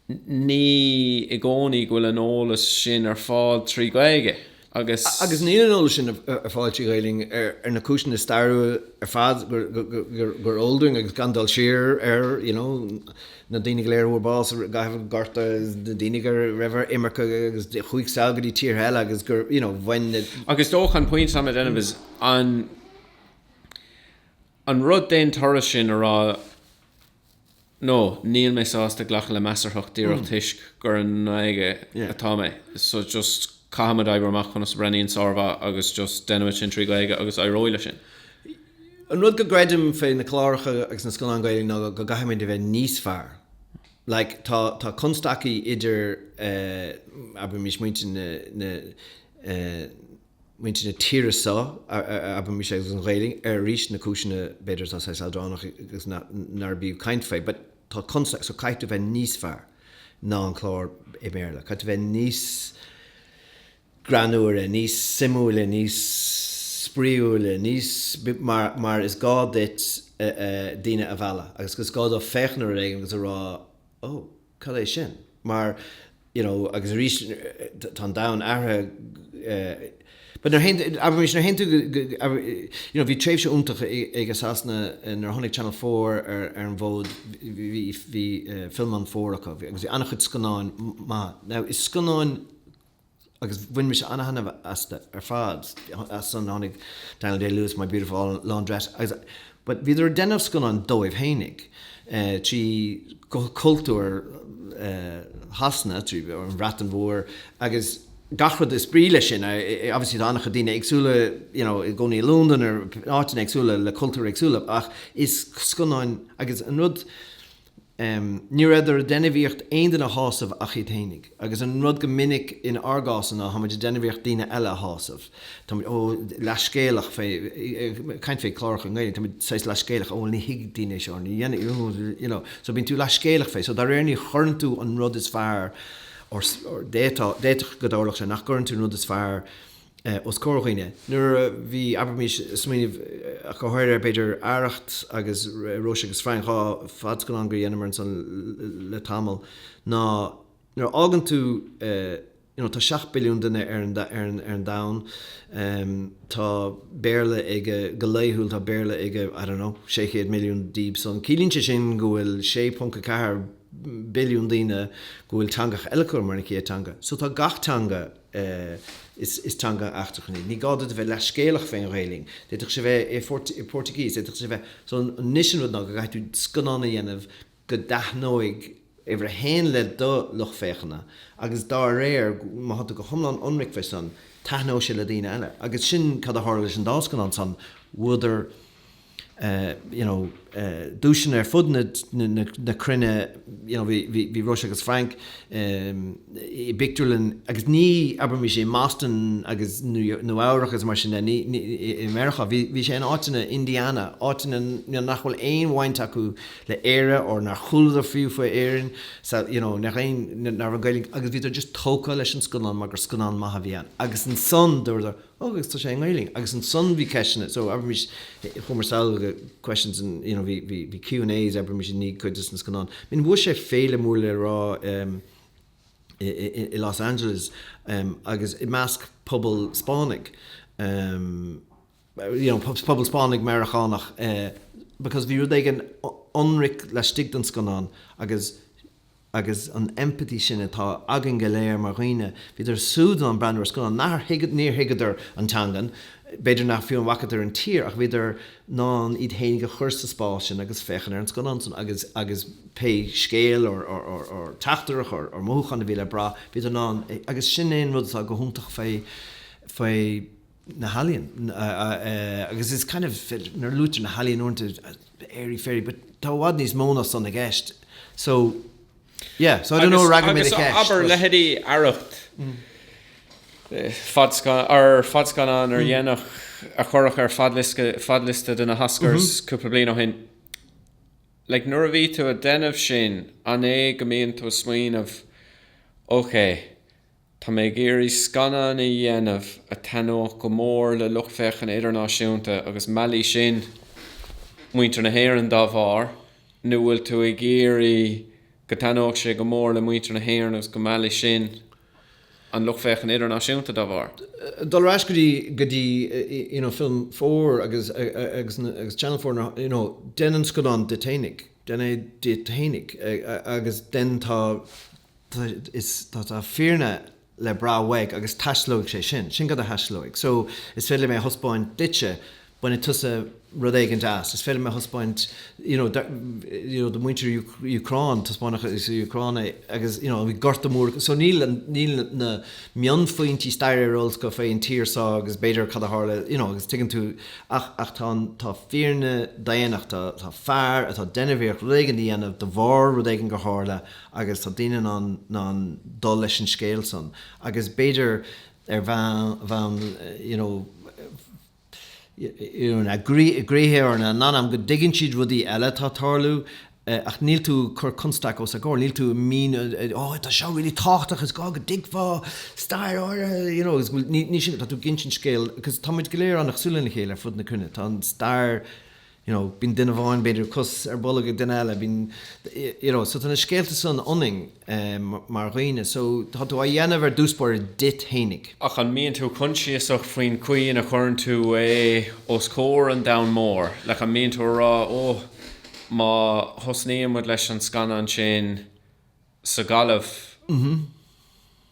ní i gcónaí go bhfuil an eolas sin ar fáil trí Ghaeilge agus. Agus níl an eolas sin ar fáil trí Ghaeilge ar na cúiseanna stairiúla ar fad gur eol dúinn agus gan dul siar air, you know. na daoine go léir a fuair bás i gcaitheamh an Ghorta agus na daoine go raibh ar imirce agus chuaigh sall go dtí tíortha eile agus gur, you know, bhain na. Ach is dócha an pointe atá mé ag déanamh is an, an rud d'aon turas sin a rá no, níl mé sásta glacadh le measarthacht díreach toisc gur i nGaeilge atá mé so just, caithfimid oibriú amach conas a bhreathnaíonn sármhaith agus just déanaimid sin trí Ghaeilge agus éireoidh le sin. An rud go gcreidim fé na cláracha agus na scannáin Gaeilge ná go gcaithfimid a bheith níos fearr. Like tá tá constaicí idir eh abraimís muintir na na eh muintir na tíre so abraimís agus an Ghaeilge ar arís na cúiseanna b'fhéidir atá saghas leadránach agus ná nárbh fhiú caint fé but tá constaic so caithfidh tú bheith níos fearr ná an clár i mBéarla, caithfidh tú bheith níos greannúire, níos suimiúla, níos spraíúla, níos mar, mar is gá duit daoine a mhealladh agus is gá dóibh féachaint ar éigin agus a rá oh cad é sin mar you know, agus arís tá an domhan athraithe but nuair théann, abraimis, nuair théann tú go, you know, bhí tréimhse iontach acu i Sasana nuair tháinig Channel Four ar an bhfód, bhí Film on Four acu agus bhí an-chuid scannáin maithe. Now is scannáin agus bhain mise an-thaitneamh astu ar fad as san tháinig Daniel Day-Lewis, My Beautiful Laundrette agus, Bhíodar ag déanamh scannáin dóibh fhéinig trí chultúr Shasana, trí an Bhreatain Mhór agus gach rud is brí leis sin. Obviously tá an-chuid daoine éagsúla you know ina gcónaí i Londain, áiteanna éagsúla le cultúir éagsúla ach is scannáin agus an rud, Ní rabhadar ag déanamh iarracht aon duine a shásamh ach iad fhéinig. Agus an rud go minic in ár gcás ná táimid ag déanamh iarracht daoine eile a shásamh. Táimid, ó, leathscéalach fé, ag caint fé cláracha i nGaeilge, táimid saghas leathscéalach, ó bhuel ní thuigfidh daoine é seo, ní dhéanfaidh, ó, you know. So bíonn tú leathscéalach fé. So dá réir ní chuireann tú an rud is fearr, or, d'fhéadfadh go dtarlódh sé nach gcuireann tú an rud is fearr, os comhair dhaoine. Nuair a bhí, abraimís, smaoineamh, go háirithe, b'fhéidir, Arracht agus Róise agus Frank, dhá fadscannán go ndeineamar ansan le tamall, ná nuair a fhéachann tú, you know, tá seacht billiún duine ar an domhan, tá Béarla ag, go laethúil, tá Béarla ag, I don't know, sé chéad milliún díobh san. Ciallaíonn sé sin go bhfuil 6.4 billiún daoine go bhfuil teangacha eile acu mar an chéad teanga. So tá gach teanga. is teanga eachtrach í. Ní gá duit a bheith leathscéalach fén Ghaeilinn. D'fhéadfadh sé bheith i Portuguese, d'fhéadfadh sé bheith. So anois an rud ná go gcaithfidh tú scannán a dhéanamh go dtaithneoidh uimhir a haon le do lucht féachana agus dá réir má tánn tú go hiomlán ionraic fé san, taithneoidh sé le daoine eile. Agus sin cad a tharla leis an dá scannán san, bhuadar. you know, duaiseanna ar fud na cruinne, you know, bhí Róise agus Frank i bpictiúrlann agus ní, abraimís i mBoston agus Nua Eabhrach agus mar sin de, ní, i Meiriceá, bhí sé in áiteanna, Indiana, áiteanna nach bhfuil aon bhaint acu le Éire or nár chualadar fiú faoi Éirinn, so, you know, nach aon, nach raibh Gaelainn, agus bhíodar just tógtha leis an scannán mar gur scannán maith a bhí ann agus ansan dúradar, Ó agus tá sé i nGaelainn. Agus ansan bhí ceisteanna. So abraimís, chuamar sall do questions and you know bhí bhí bhí Q and A's abraimís i ndiaidh cuid de na scannáin. I mean bhuaigh sé féile mór le rá ehm i i i Los Angeles ehm agus i measc pobal Spáinnigh ehm you know pobal pobal Spáinnigh Meiriceánach eh because bhí rud éigin ionraic laistigh den scannán agus agus an empathy sin atá againn go léir mar dhaoine, bhíodar súd in ann breathnú ar scannán, nachar thuigeadar, níor thuigeadar an teangan, b'fhéidir nach fiú an bhfacadar an tír ach bhíodar in ann iad fhéinig a chur sa spás sin agus féachaint ar an scannán san agus agus pé scéal or or teachtaireacht or mothúchán a bhí le brath, bhíodar in ann é agus sin é an rud atá go hiontach faoi faoi. na healaíon agus is kind of nuair a luaitear na healaíon uaireanta airy fairy but tá i bhfad níos mó ná san i gceist so yeah so I don't know ar fhreagair mé do cheist. Agus abair leithéidí Arracht ar fadscannán ardéanach a cuireadh ar fadliosta do na hOscars cúpla bliain ó shin like nuair a bhí tú ag déanamh sin an é go mbíonn tú ag smaoineamh ok Tá mé ag iarraidh scannán a dhéanamh a thaithneodh go mór le lucht féachana idirnáisiúnta agus meallfaidh sin muintir na hÉireann dá bharr, nó bhfuil tú ag iarraidh go dtaithneodh sé go mór le muintir na hÉireann agus go meallfaidh sin an lucht féachana idirnáisiúnta dá bharr? Dul ar ais go dtí, go dtí you know Film Four agus, agus na, agus Channel Four na you know déan an scannán duit fhéinig, déan é duit fhéinig agus then tá, Tá, is, tá, tá fírinne le brath uaidh agus taistealóidh sé sin. Sin cad a thaistealóidh. So, is féidir le mé a thaispeáint duitse, bainfidh tusa rud éigin as, is féidir le mé a thaispeáint, you know, do, you know, do mhuintir Úcráin, taispeánfadh an Úcráin é agus, you know, bhí gorta mór acu. So níl, níl na mionphointí staire ar eolas acu faoin tír so agus b'fhéidir cad a tharla, you know, agus tuigeann tú ach, ach tá an, tá fírinne daonnachta, tá fear atá deimhnitheach rud éigin a dhéanamh de bharr rud éigin gur tharla, agus tá daoine in ann dul leis an scéal san agus b'fhéidir ar bhonn you know na gcroíthe or na n-anam go dtuigeann siad rudaí eile atá tarlú ach níl tú ag cur constaic os a gcomhair, níl tú ag míniú oh tá seo really tábhachtach is gá go dtuigfeá stair áirithe you know agus níl sin tá tú ag insint an scéal agus táimid go léir an-chosúil lena chéile ar fud na cruinne, tá an stair you know, bíonn duine amháin, b'fhéidir, cos ar bolg ag duine eile, bíonn, you know, so tá na scéalta san ionainn mar dhaoine, so tá tú á dhéanamh ar dtús báire duit fhéinig. Ach an mbíonn tú consiasach faoin chaoi ina chuireann tú é os comhair an domhain mhóir, like an mbíonn tú a rá, oh, má thosnaíonn muid leis an scannán ansin, sa Ghaillimh.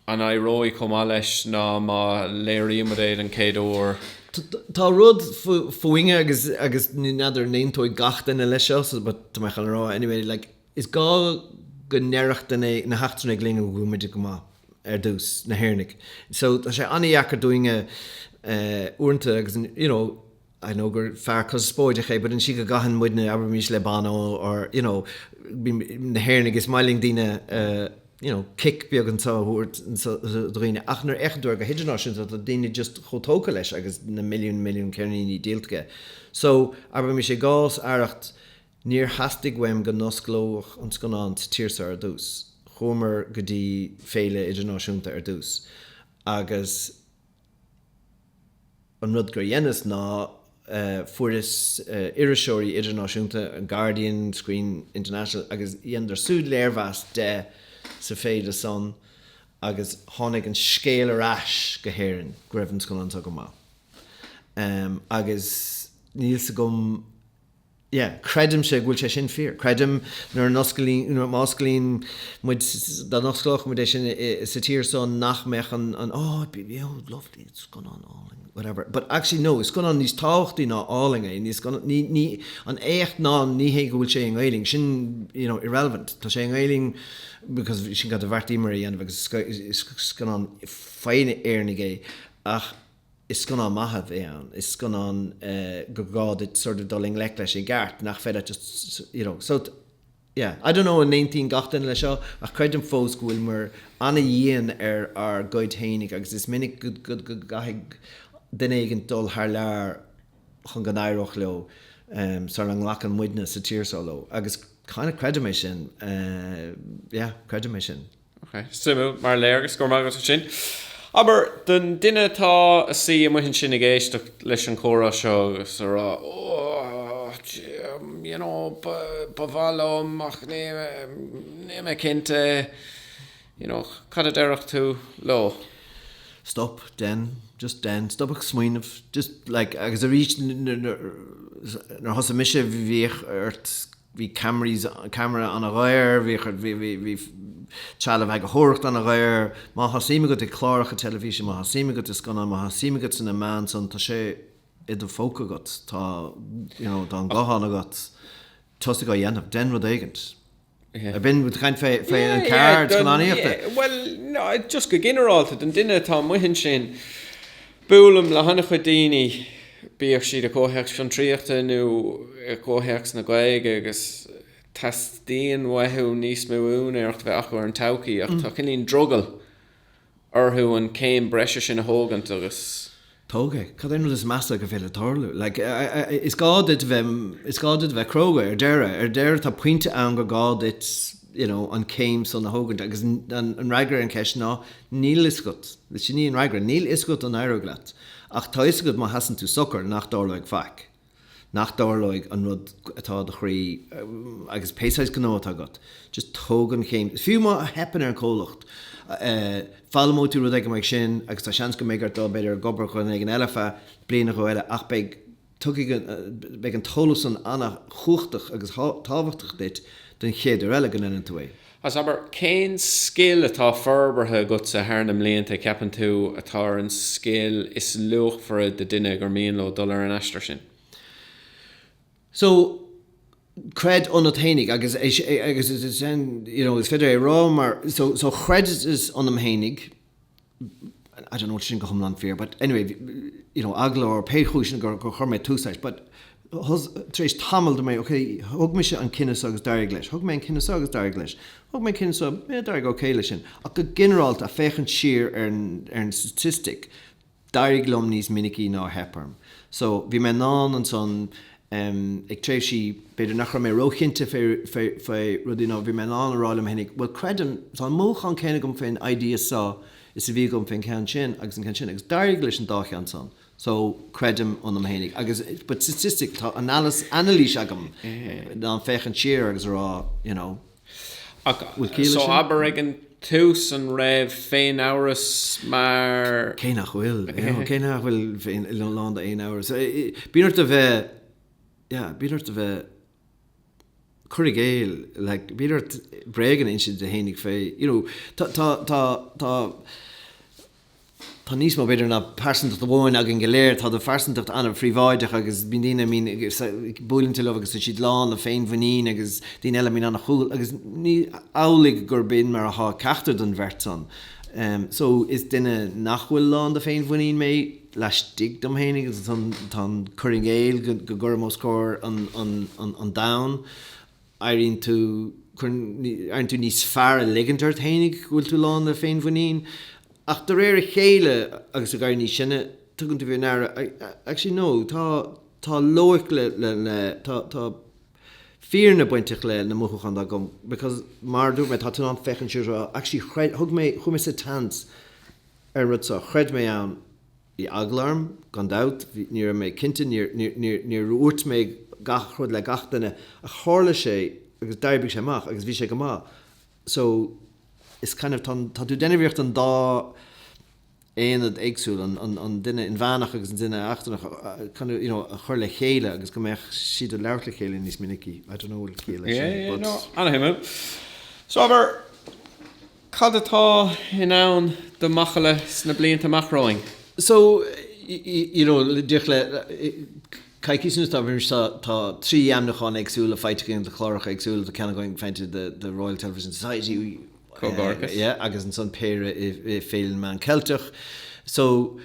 An éireoidh chomh maith leis ná má léirímid é den chéad uair? Tá rud fúinne agus agus n'fheadar n'aontóidh gach duine leis seo so but tá mé chun rá anyway like is gá go ndeirfeadh daoine na heachtrannaigh linne go bhfuilimid go maith ar dtús, na hÉireannaigh. So tá sé an-dheacair dúinne uaireanta agus you know. I know gur fear conspóideach é but an tslí go gcaitheann muidne, abraimís le Bono or you know na hÉireannaigh is maith linn daoine you know cic beag anseo a thabhairt do dhaoine ach nuair a fhéachann tú air go hidirnáisiúnta tá daoine just chomh tógtha leis agus na milliúin milliúin ceirníní díolta aige so abraimís i gcás Arracht níor theastaigh uaim go n-osclódh an scannán sa tír seo ar dtús. Chuamar go dtí féile idirnáisiúnta ar dtús agus. An rud gur dheineas ná fuaireas iriseoirí idirnáisiúnta, an Guardian, Screen International, agus dheineadar súd léirmheas de sa féile san agus tháinig an scéal ar ais go hÉirinn go raibh an scannán so go maith. Agus níl 's agam. Yeah, creidimse go bhfuil sé sin fíor. Creidim nuair a n-osclaíonn, nuair má osclaíonn muid, dá n-osclóchadh muid é sin sa tír so nach mbeadh an, an oh it'd be, oh lovely, it's scannán álainn, whatever. But actually no, is scannán níos tábhachtaí ná álainn é. Ní scannán, ní, ní, an éacht ná ní hé go bhfuil sé i nGaoluinn, sin, you know, irrelevant. Tá sé i nGaoluinn because sin cad a bheartaíomar a dhéanamh agus is, is scannán faoi Éireannaigh é. Ach. Is scannán maith a bhí ann. Is scannán gur gá duit sórt dul i ngleic leis i gceart, nach féidir leat just you know. So yeah. I don't know an aontaíonn gach duine leis seo ach creidim fós go bhfuileamar ana-dhian ar ár gcuid fhéinig agus is minic go gcaithfidh duine éigint dul thar lear chun go n-éireodh leo sara nglacann muidne sa tír seo leo agus kind of creidim é sin. Yeah. Creidim é sin. Ok. Suimiúil mar léargas. Go raibh maith agat as sin. Abair, don duine atá ag suí amuigh ansin ag éisteacht leis an chomhrá seo agus ag rá Oh, you know, ba mhaith liom ach níl mé cinnte, you know, cad a déarfá leo? Stop, dein, just dein, stop ag smaoineamh, just, like, agus arís nuair thosaigh mise bhíodh ort Bhí ceamara ana dhaor, bhí, bhí, bhí, bhí trealamh eagarthóireachta ana dhaor. Má tá suim agat i gcláracha teilifíse, má tá suim agat i scannáin, má tá suim agat sna meáin san, tá sé i do phóca agat, tá, you know, tá an guthán agat, tosaigh á dhéanamh, dein rud éigin. An bhfuilimid ag caint fé, fé Yeah, an yeah, ceird, don, scannánaíochta. yeah, well, no, just go ginearálta, don duine atá amuigh ansin, Buailim le han-chuid daoine, bíodh siad i gcomhthéacs fiontraíochta nó i gcomhthéacs na Gaeilge agus teastaíonn uathu níos mó úinéireacht a bheith acu ar an todhchaí ach tá cineál drogaill orthu an céim breise sin a thógaint agus. Tóg é. Cad é an rud is measa gur féidir tarlú? Is gá duit bheith, is gá duit a bheith cróga ar deireadh. Ar deireadh tá pointe ann gur gá duit you know an céim san a thógaint agus an fhreagra ar an ceist ná, Níl fhios agat. Sin í an fhreagra. Níl fhios agat an éireoidh leat. Ach tá fhios agat má sheasann tú socair nach dtarlóidh faic. Nach dtarlóidh an rud atá i do chroí agus pé saghas gnó atá agat. Just tóg an chéim. Fiú má theipeann ar an comhlacht, foghlaimeoidh tú rud éigin mar sin agus tá seans go mbeidh ort dul b'fhéidir ag obair do dhuine éigin eile feadh bliain nó dhó eile ach beidh tuigfidh an, beidh an t-eolas san an-chumhachtach agus tábhachtach duit don chéad uair eile go ndeineann tú é. As, abair, cén scil atá forbartha agatsa thar na mblianta a ceapann tú atá ar an scil is luachmhaire do duine gur mian leo dul ar an aistear sin? So, creid ionat fhéinig agus, agus is é sin, you know, is féidir é a rá mar, so, so chreideas ionam fhéinig, I don't know an bhfuil sin go hiomlán fíor but anyway, you know, ach ar pé chúiseanna gur chuir mé tús leis but tar éis tamaill dúirt mé ok, thug mise an cinneadh so agus d'éirigh leis, thug mé an cinneadh so agus d'éirigh leis, thug mé an cinneadh so, eh, d'éirigh ok leis sin. Ach go ginearálta, féachaint siar ar an statistic, d'éirigh liom níos minicí ná a theip orm. So bhí mé in ann ansan em. ag tréimhsí, b'fhéidir nach raibh mé ró-chinnte fé, fé, fé rudaí nó bhí mé in ann a rá liom fhéin, bhuel creidim, tá an mothúchán céanna agam fén idea san is a bhí agam fén gceann sin agus an ceann sin agus d'éirigh leis an dá cheann san so creidim ionam fhéinig agus but statistic tá analysis, anailís agam, in ann féachaint siar agus a rá you know. Ach Bhfuil ciall leis so sin? abair ag an tús an raibh féin-amhras mar. Cé nach bhfuil, yeah, cé nach bhfuil féin, lán d'fhéin-amhras. Bíonn ort a bheith, yeah, bíonn ort a bheith, cur i gcéill, like, bíonn ort bréagan a insint duit fhéinig fé, you know, tá, tá, tá, tá, Tá níos mó b'fhéidir ná pearsantacht amháin againn go léir. Tá do phearsantacht an-phríobháideach agus bíonn daoine, I mean, buaileann tú leo agus tá siad lán le féinmhuinín agus daoine eile, I mean, an-chúthail agus ní hamhlaidh gur b'in mar atá ag ceachtar den bheirt san. So, is duine nach bhfuil lán de féinmhuinín mé laistigh dom féin agus ansan tá an cur i gcéill go gcuirim os comhair an domhain. éiríonn tú, cuireann, éiríonn tú níos fearr a' ligint ort fhéinig go bhfuil tú lán le féinmhuinín ach de réir a chéile agus ag éirí níos sine tugann tú faoi ndeara actually no, tá, tá loighic le, le, le, tá, tá fírinne bainteach leis na mothúcháin atá agam because mar a dúirt mé tá tú in ann féachaint siar is rá actually chreid, thug mé, chuaigh mé sa tseans ar an rud seo, chreid mé ann. Bhí eagla orm, gan dabht, ní raibh mé cinnte, níor dhúirt mé gach rud le gach duine ach tharla sé agus d'oibrigh sé amach agus bhí sé go maith so is kind of tá tá tú ag déanamh iarracht an dá aonad éagsúil, an an duine inmheánach agus an duine seachtrach kind of you know a chur le chéile agus go mbeadh siad ag labhairt le chéile níos minicí, I don't know bhfuil ciall leis sin but. Yeah, yeah, no, ana-shuimiúil. So, abair. Cad atá i ndán do Mhacalla sna blianta amach romhainn? So, you know, díreach le coicís anuas tá tá trí ainmniúchán éagsúla faighte againn do chláracha éagsúla do ceann againn faighte do the Royal Television Society Comhghairdeachas. yeah, agus ansan péire i i Féile na Meán Ceilteach. So,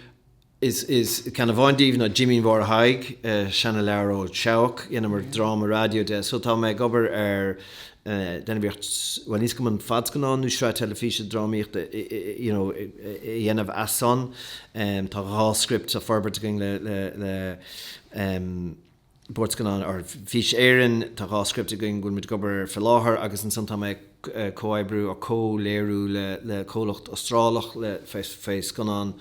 Is ceann amháin díobh ná Jimín Mháire Thaidhg, seana-leabhar leis an Seabhac, dheineamar dráma raidió de. So tá mé ag obair ar, déanamh iarracht, bhuel ní, is cuma an fadscannán nó sraith teilifíse drámaíochta you know a dhéanamh as san. Tá dhá script á bhforbairt againn le, le, le. Bord Scannán or Fís Éireann, tá dhá script againn a bhfuil muid ag obair air fé láthair agus ansan tá mé ag comhoibriú or comhléiriú le comhlacht Astrálach le fé scannán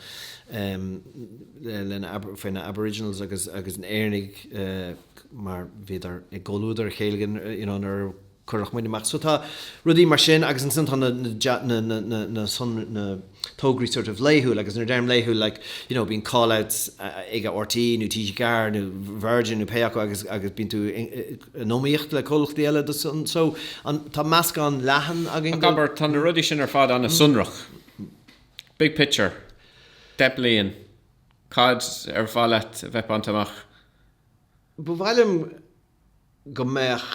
le fé na Aboriginals agus na Éireannaigh mar bhíodar i gcomhluadar a chéile you know nuair a Chuir muid amach. So tá rudaí mar sin agus ansin tá na na sonraí, na tograí sort of laethúil agus nuair a deirim laethúil like you know bíonn call outs ag RTÉ nó TG4 nó Virgin nó pé acu agus agus bíonn tú in iomaíocht le comhlachtaí eile dó san so tá meascán leathan againn Ach abair tá na rudaí sin ar fad an-sonrach, big picture, deich mbliain, cad ar mhaith leat a bheith bainte amach? Ba mhaith liom. go mbeadh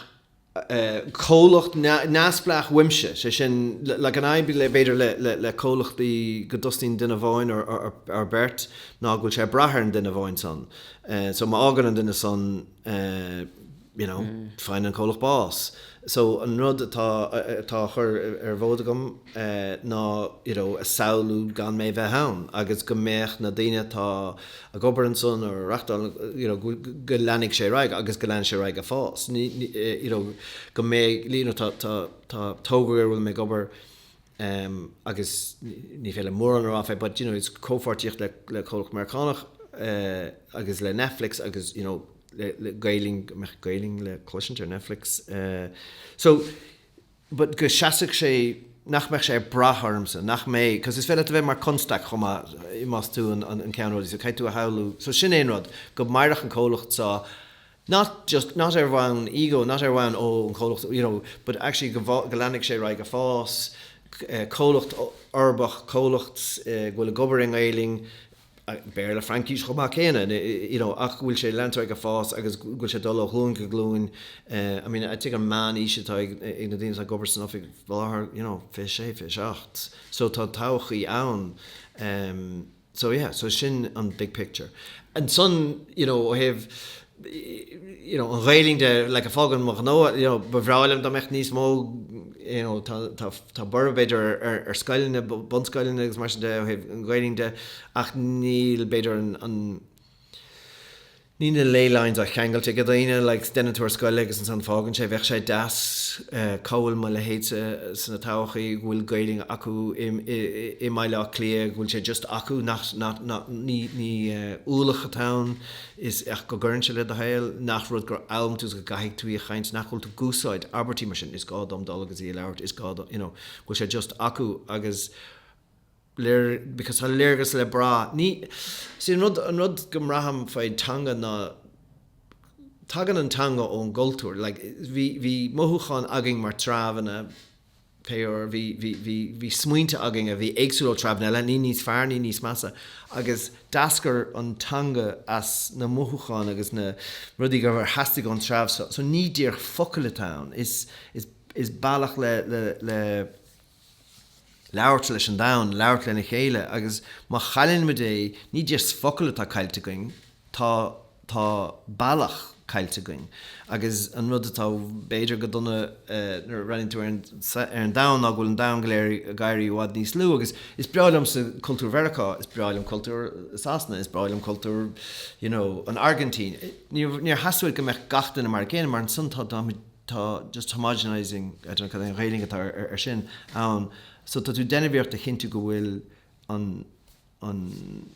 comhlacht neamhspleách uaimse, sé sin, an fhadhb b'fhéidir le comhlachtaí go dtosaíonn duine amháin or beirt ná go bhfuil sé ag brath ar an duine amháin san. So má fhágann an duine san you know faigheann an comhlacht bás. So an rud atá á chur ar bhord agam, eh, ná, you know, a shamhlú gan mé bheith ann agus go mbeadh na daoine atá ag obair ansan or a reachtáil an, you know, go leanfadh sé ar aghaidh agus go leanfadh sé ar aghaidh a' fás. Ní, eh, you know, go mbeidh, you know, tá, tá, tá togra ar a bhfuil mé ag obair em agus ní féidir mórán a rá fé but, you know, is comhpháirtíocht le, le comhlacht Meiriceánach eh agus le Netflix agus, you know, le, le Gaeilinn, go mbeadh Gaeilinn le cloisint ar Netflix eh so, but go seasfadh sé, nach mbeadh sé ag brath ormsa, nach mbeadh, because is féidir leat a bheith mar chonstaic chomh maith i, más tú an, an, an ceann rudaí, so caithfidh tú a shamhlú, so sin é an rud, go mairfeadh an comhlacht seo, not just, not ar bhonn ego, not ar bhonn oh an comhlacht, you know, but actually go, go leanfadh sé ar aghaidh a' fás, comhlacht uirbeach, comhlacht go bhfuil ag obair i nGaeilinn, Béarla, Fraincís chomh maith céanna, you know, ach go bhfuil sé ag leanúint air ag fás agus go bhfuil sé ag dul ó ghlúin go glúin. I mean, I think an meán aois atá ag na daoine atá ag obair san oifig faoi láthair, you know, 26, 27. So tá todhchaí ann. So yeah, so sin an big picture. Ansan, you know, ó thaobh you know, an Ghaeilinn de, like, fág ann mo ghnó, you know, ba bhreá liom dá mbeadh níos mó, you know, tá, tá, tá borradh b'fhéidir ar, ar, ar scoileanna, bunscoileanna agus mar sin de ó thaobh an Ghaeilinn de, ach níl b'fhéidir an, an Ní na ley lines á cheangailt ag daoine, like, déanann tú ar scoil é agus ansan fágann sé, bheadh sé deas uh, go mbeadh mo leithéidse sa todhchaí go bhfuil Gaeilinn acu i, i, i mBaile Átha Cliath, go bhfuil sé just acu, nach, nach, nach, ní, ní uh, ualach atá ann, is é go gcuireann sé le do shaol nach rud gur fhoghlaim tú is go gcaithfidh tú í a chaint, nach bhfuil tú ag úsáid abairtí mar sin, is gá dom dul agus í a labhairt, is gá dom, you know, go bhfuil sé just acu agus léir, because tá léargas le brath, ní, see an rud, an rud go mbraithim faoi teanga ná tagann an teanga ón gcultúr, like bhí, bhí mothúcháin againn mar treibheanna, faraor, bhí, bhí, bhí, bhí smaointe againn a bhí éagsúil ó treibheanna eile, ní níos fearr, ní níos measa, agus d'eascair an teanga as na mothúcháin agus na rudaí go, a theastaigh ón treibh seo. So ní díreach focail atá ann, is, is, is bealach le, le, le labhairt leis an domhan, labhairt lena chéile agus má chailleann muid é, ní just focail atá caillte againn, Tá, tá bealach caillte againn. Agus an rud atá b'fhéidir go dona nuair a bhreathnaíonn tú ar an, ar an domhan ná go bhfuil an domhan go léir ag éirí i bhfad níos lú agus is breá liomsa cultúr Mheiriceá, is breá liom cultúr Shasana, is breá liom cultúr you know an Airgintín. Níor, níor theastaigh uait go mbeadh gach duine mar a chéile mar ansan tá, táimid, tá just homogenising, I dunno cad é an Ghaeilge atá ar sin, ann. So tá tú ag déanamh iarracht a chinntiú go bhfuil an. an,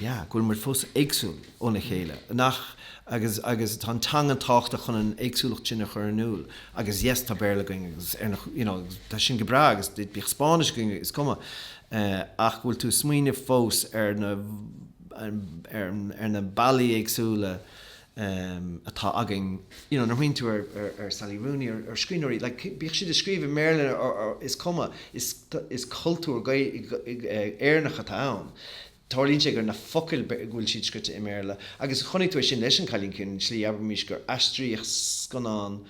yeah, go bhfuil muid fós éagsúil óna chéile, nach, agus, agus tá an teanga tábhachtach chun an éagsúlacht sin a chur in iúl agus yes tá Béarla againn agus ar na, you know, tá sin go breá agus bíodh Spáinnis againn, is cuma eh, ach go bhfuil tú ag smaoineamh fós ar na, ar na bealaí éagsúla. um, atá againn, you know, nuair a smaoiníonn tú ar, ar, ar Sally Rooney, ar, ar scríbhneoirí, like, bíodh siad ag scríobh i mBéarla nó is cuma, is, is cultúr Gael, Éireannach atá ann. Tarlaíonn sé gur na focail, go bhfuil siad scrite i mBéarla. Agus chonaic tú é sin leis An Cailín Ciúin, an tslí, abraimís, gur aistríodh scannán,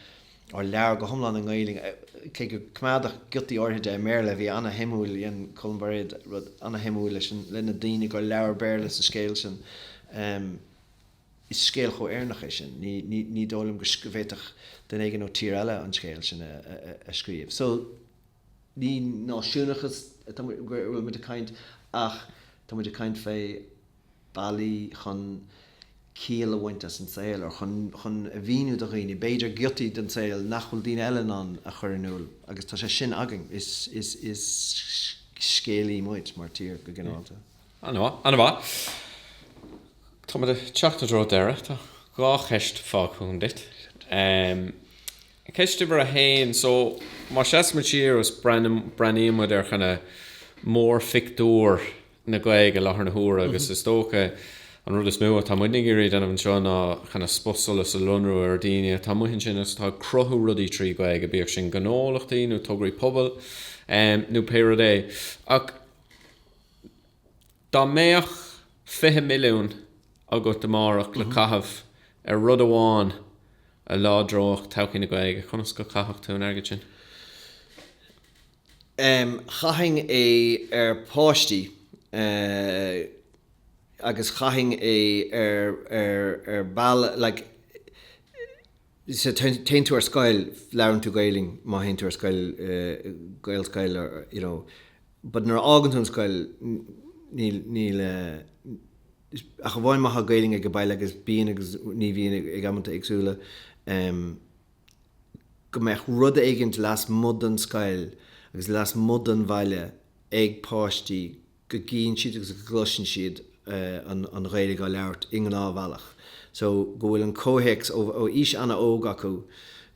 or leabhar, go hiomlán i nGaeilge, cé gur coimeádadh giotaí áirithe de i mBéarla, a bhí ana-shuimiúil, dhein Colm Bairéad rud ana-shuimiúil leis an, le na daoine gur labhair Béarla sa scéal sin. Um. Is scéal chomh Éireannach é sin. Ní dóigh liom go bhféadfadh duine éigin ó tír eile an scéal sin a scríobh. So, ní náisiúnachas atá muid, go bhfuil muid ag caint ach tá muid ag caint fé bealaí chun ciall a bhaint as an saol or chun a mhíniú do dhaoine b'fhéidir giotaí den saol nach bhfuil daoine eile in ann a chur in iúl agus tá sé sin againn. Is scéalaithe muid mar tír go ginearálta. Ana-mhaith, ana-mhaith. Táimid ag teacht i dtreo deireadh. Tá dhá cheist fágtha agam duit. Ceist uimhir a haon, so, má seasaimid siar agus breathnaímid ar kinda mórphictiúr na Gaeilge i láthair na huaire agus is dócha an rud is mó atá muidne ag iarraidh a dhéanamh anseo ná kinda spotsolas a lonrú ar dhaoine atá amuigh ansin agus atá ag cruthú rudaí trí Ghaeilge, bíodh sin gnólachtaí nó tograí pobail nó pé rud é. Ach. Dá mbeadh fiche milliún agat amárach le caitheamh ar rud amháin a láidreodh todhchaí na Gaeilge, conas go caithfeadh tú an airgead sin? Chaithfinn é ar pháistí agus chaithfinn é ar ball like. sea, téann tú ar scoil, labhraíonn tú Gaeilinn má théann tú ar scoil, Gaelscoil or you know, but nuair a fhágann tú an scoil níl, níl eh, ach amháin má tá Gaeilinn age baile agus bíonn agus ní bhíonn ag amanta éagsúla em, go mbeadh rud éigint lasmuigh den scoil agus lasmuigh den bhaile ag páistí go gcíonn siad agus go gcloiseann siad an Ghaeilg á labhairt i ngnáthbhealach so go bhfuil an comhthéacs ó aois an-óg acu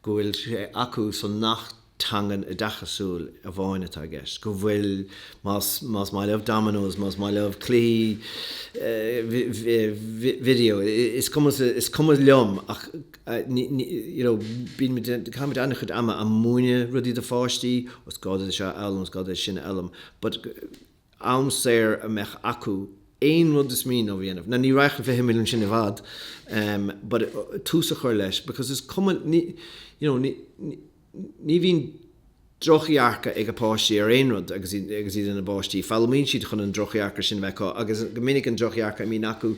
go bhfuil sé acu so nach teanga oideachasúil amháin atá i gceist go bhfuil más más maith leo dominos más maith leo cluichí video is cuma is cuma liom ach you know caithimid an-chuid ama ag múineadh rudaí do pháistí is gá duit é seo a fhoghlaim is gá duit é sin a fhoghlaim but am saor a bheith acu aon rud is mian leo a dhéanamh. Now ní raghadh an 20 milliún sin i bhfad but tús a chur leis because is cuma ní you know ní ní bhíonn drochdhearcadh ag a páistí ar aon rud agus iad agus iad ina bpáistí. Foghlaimíonn siad chun an drochdhearcadh sin a bheith acu agus go minic an drochdhearcadh a bhíonn acu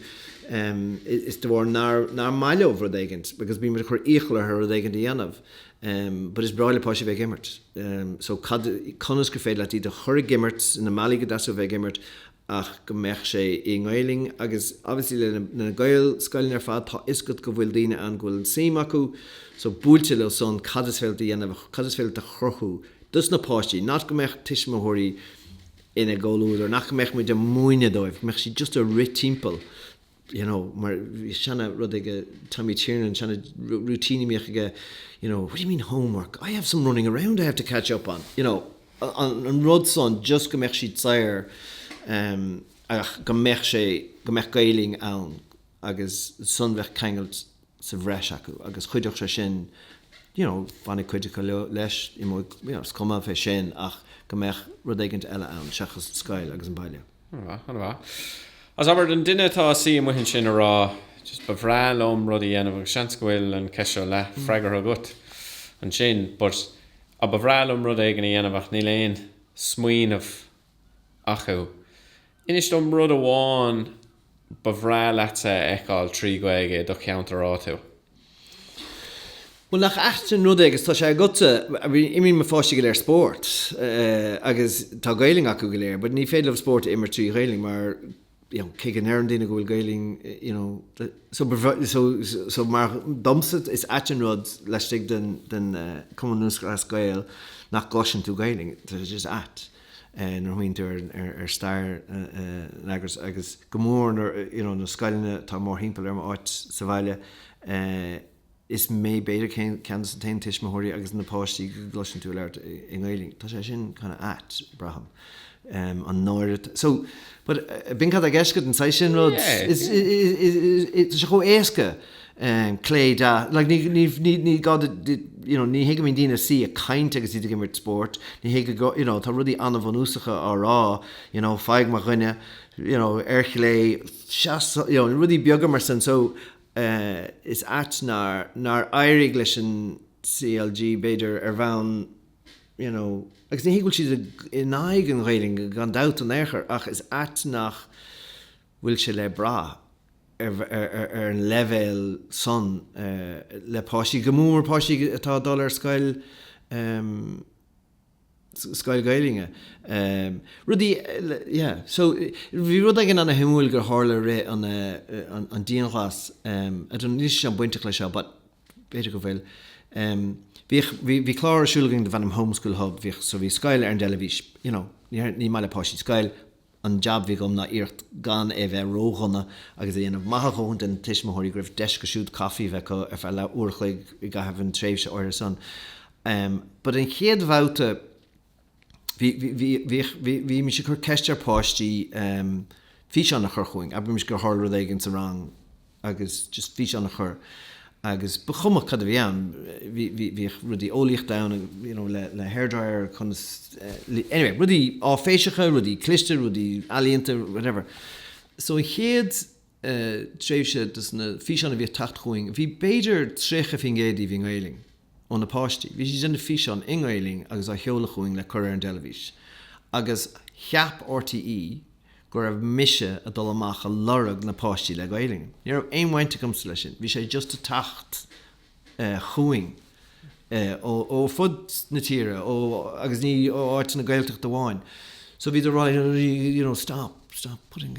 is de bharr nár nár maith leo rud éigint because bímid ag cur iachall orthu rud éigint a dhéanamh. but is breá le páistí bheith ag imirt so cad, conas gur féidir leat iad a chur ag imirt sna bealaí go dteastódh bheith ag imirt ach go mbeadh sé i nGaelainn agus obviously le na Gaelscoileanna ar fad tá fhios agat go bhfuil daoine ann go bhfuil an tsuim acu so buailte leis sin cad is féidir leat a dhéanamh cad is féidir leat a chruthú dos na páistí not go mbeadh tuismitheoirí ina gcomhluadar and nach mbeadh muid ag múineadh dóibh go mbeadh siad just ag rith timpeall you know, mar bhí seana rud ag Tommy Tiernan, seana routine a bhíodh aige, you know, what do you mean homework? I have some running around I have to catch up on, you know, an rud san just go mbeadh siad saor um, ach go mbeadh sé, go mbeadh Gaelainn ann agus ansan bheadh ceangal sa bhreis acu agus cuideachta is é sin you know bhainfeadh cuid acu leas, imeoidh you know is cuma fé sin ach go mbeadh rud éigint eile ann seachas scoil agus an baile. An-mhaith, an-mhaith. Agus abair don duine atá ina shuí amuigh ansin ag rá just ba bhreá liom rud a dhéanamh agus seans go bhfuil an cheist seo leathfhreagartha agat ansin but á ba bhreá liom rud éigin a dhéanamh ach níl aon smaoineamh acu. Inis dom rud amháin ba bhreá leat a fheiceáil trí Ghaeilge i do cheantar áitiúil. Bhuel, nach ait an rud é agus tá sé agatsa, imríonn mo pháistí go léir spórt agus tá Gaelainn acu go léir but ní féidir leo spórt a imirt trí Ghaelainn mar, you know, cé go ndeireann daoine go bhfuil Gaelainn, you know, so ba bhreá, so, so mar domsa is ait an rud laistigh den, den Chumann Lúthchleas Gael nach gcloiseann tú Gaelainn, tá sé just ait nuair a smaoiníonn tú ar, ar, ar stair an eagrais agus go mór nuair, you know, na scoileanna atá mórthimpeall ar m'áit sa bhaile, eh, Is mé b'fhéidir ceann de na t-aon tuismitheoirí agus na páistí go gcloiseann tú a labhairt i nGaeilge. Tá sé sin kind of ait, braithim. An náire atá, so, but b'in cad tá i gceist agat, an saghas sin rud. Tá sé chomh éasca clé, deas, like ní, ní, ní, ní gá duit, you know, ní thuigim, ní bhíonn daoine ag caint agus iad ag imirt spóirt. Ní thuig, you know, tá rudaí an-bhunúsacha á rá, you know, faigh mo dhuine, you know, ar chlé, seas, you know, rudaí beaga mar sin. So, Is ait nár éirigh leis an CLG, b'fhéidir, ar bhonn, you know, agus ní hé go bhfuil siad in aghaidh an Ghaeilge gan dabht in aon chor ach is ait nach bhfuil sé le brath ar an leibhéal san le páistí, go mór mór páistí atá ag dul ar scoil. scoil Gaeilge. Rudaí, yeah. So, bhí rud éigin ana shuimiúil gur tharla i rith an, an dianghlas, I don't know, an bhfuil sé seo bainteach leis seo but b'fhéidir go bhfuil. Bhíodh, bhí, bhí clár ar siúl againn darb ainm Home School Hub, bhíodh, so bhí scoil ar an dteilifís, you know, ní maith le páistí scoil, an jab bhí agam ná iarracht gan é bheith ró-dhona agus a dhéanamh maith a dhóthain do na tuismitheoirí go raibh deis acu siúd caifí a bheith acu ar feadh leath uair a chloig i gcaitheamh an tréimhse áirithe san. But an chéad bhabhta bhí, bhí, bhí, bhí, bhí, bhí mise ag cur ceist ar páistí físeán a chur chugainn, abraimis gur tharla rud éigin sa rang, agus just físeán a chur agus ba chuma cad a bhí ann bhí, bhí, bhíodh rudaí eolaíochta ann agus you know le, le hair dryer conas eh, anyway rudaí áiféiseacha, rudaí cliste, rudaí ealaíonta whatever. So an chéad eh, tréimhse dos na físeáin a bhíodh ag teacht chugainn bhí b'fhéidir 30% díobh i nGaelainn ó na páistí. Bhí siad ag déanamh físeán i nGaelainn agus á sheoladh chugainn le cur ar an dteilifís agus cheap R.T.E. go raibh mise a dul amach a lorg na páistí le Gaelainn. Ní raibh aon bhaint agamsa leis sin. Bhí sé just a' teacht chugainn ó fud na tíre ó agus ní ó áiteanna Gaeltachta amháin. So bhíodar ag rá you know stop, stop putting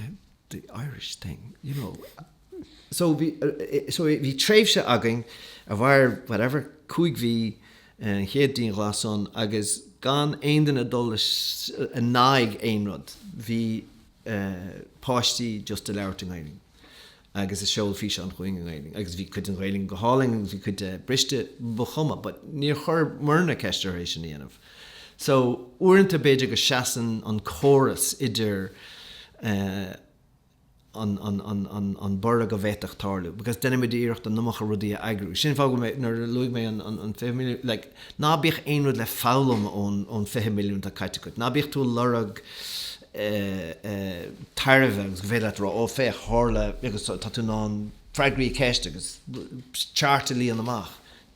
the Irish thing you know. So bhí, so bhí tréimhse againn a mhair whatever, cúig mhí, an chéad dianghlas san agus gan aon duine ag dul in aghaidh aon rud. Bhí páistí just ag labhairt i nGaeilinn agus ag seoladh físeáin chugainn i nGaeilinn agus bhí cuid den Ghaeilinn go hálainn agus bhí cuid de briste, ba chuma but níor chuir muidne ceist orthu é sin a dhéanamh. So uaireanta b'fhéidir go seasann an córas idir eh, an borradh a bhféadfadh tarlú because deinimidne iarracht an iomarca rudaí a eagrú. Sin fáth go bhfuil, nuair a luaigh mé an 20 milliún, like, ná bíodh aon rud le foghlaim ón 20 milliún atá caite agat. Ná bíodh tú ag lorg tairbhe agus gur féidir leat a rá, ó féach, tharla agus tá tú in ann freagraí ceiste agus chairt a líonadh amach.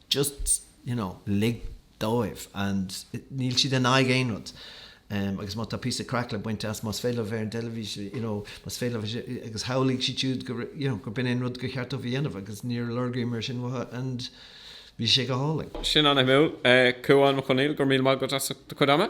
Just, you know, lig. dóibh and níl siad in aghaidh aon rud agus má tá píosa craic le baint as, más féidir a bheith ar an dteilifís you know más féidir agus shamhlaigh siad siúd gur you know gur b'in é an rud gur cheart dóibh a dhéanamh agus níor lorgaíomar sin uathu and bhí sé go hálainn. Sin an-shuimiúil. Cuán Mac Conghail, go raibh míle maith agat as do chuid ama.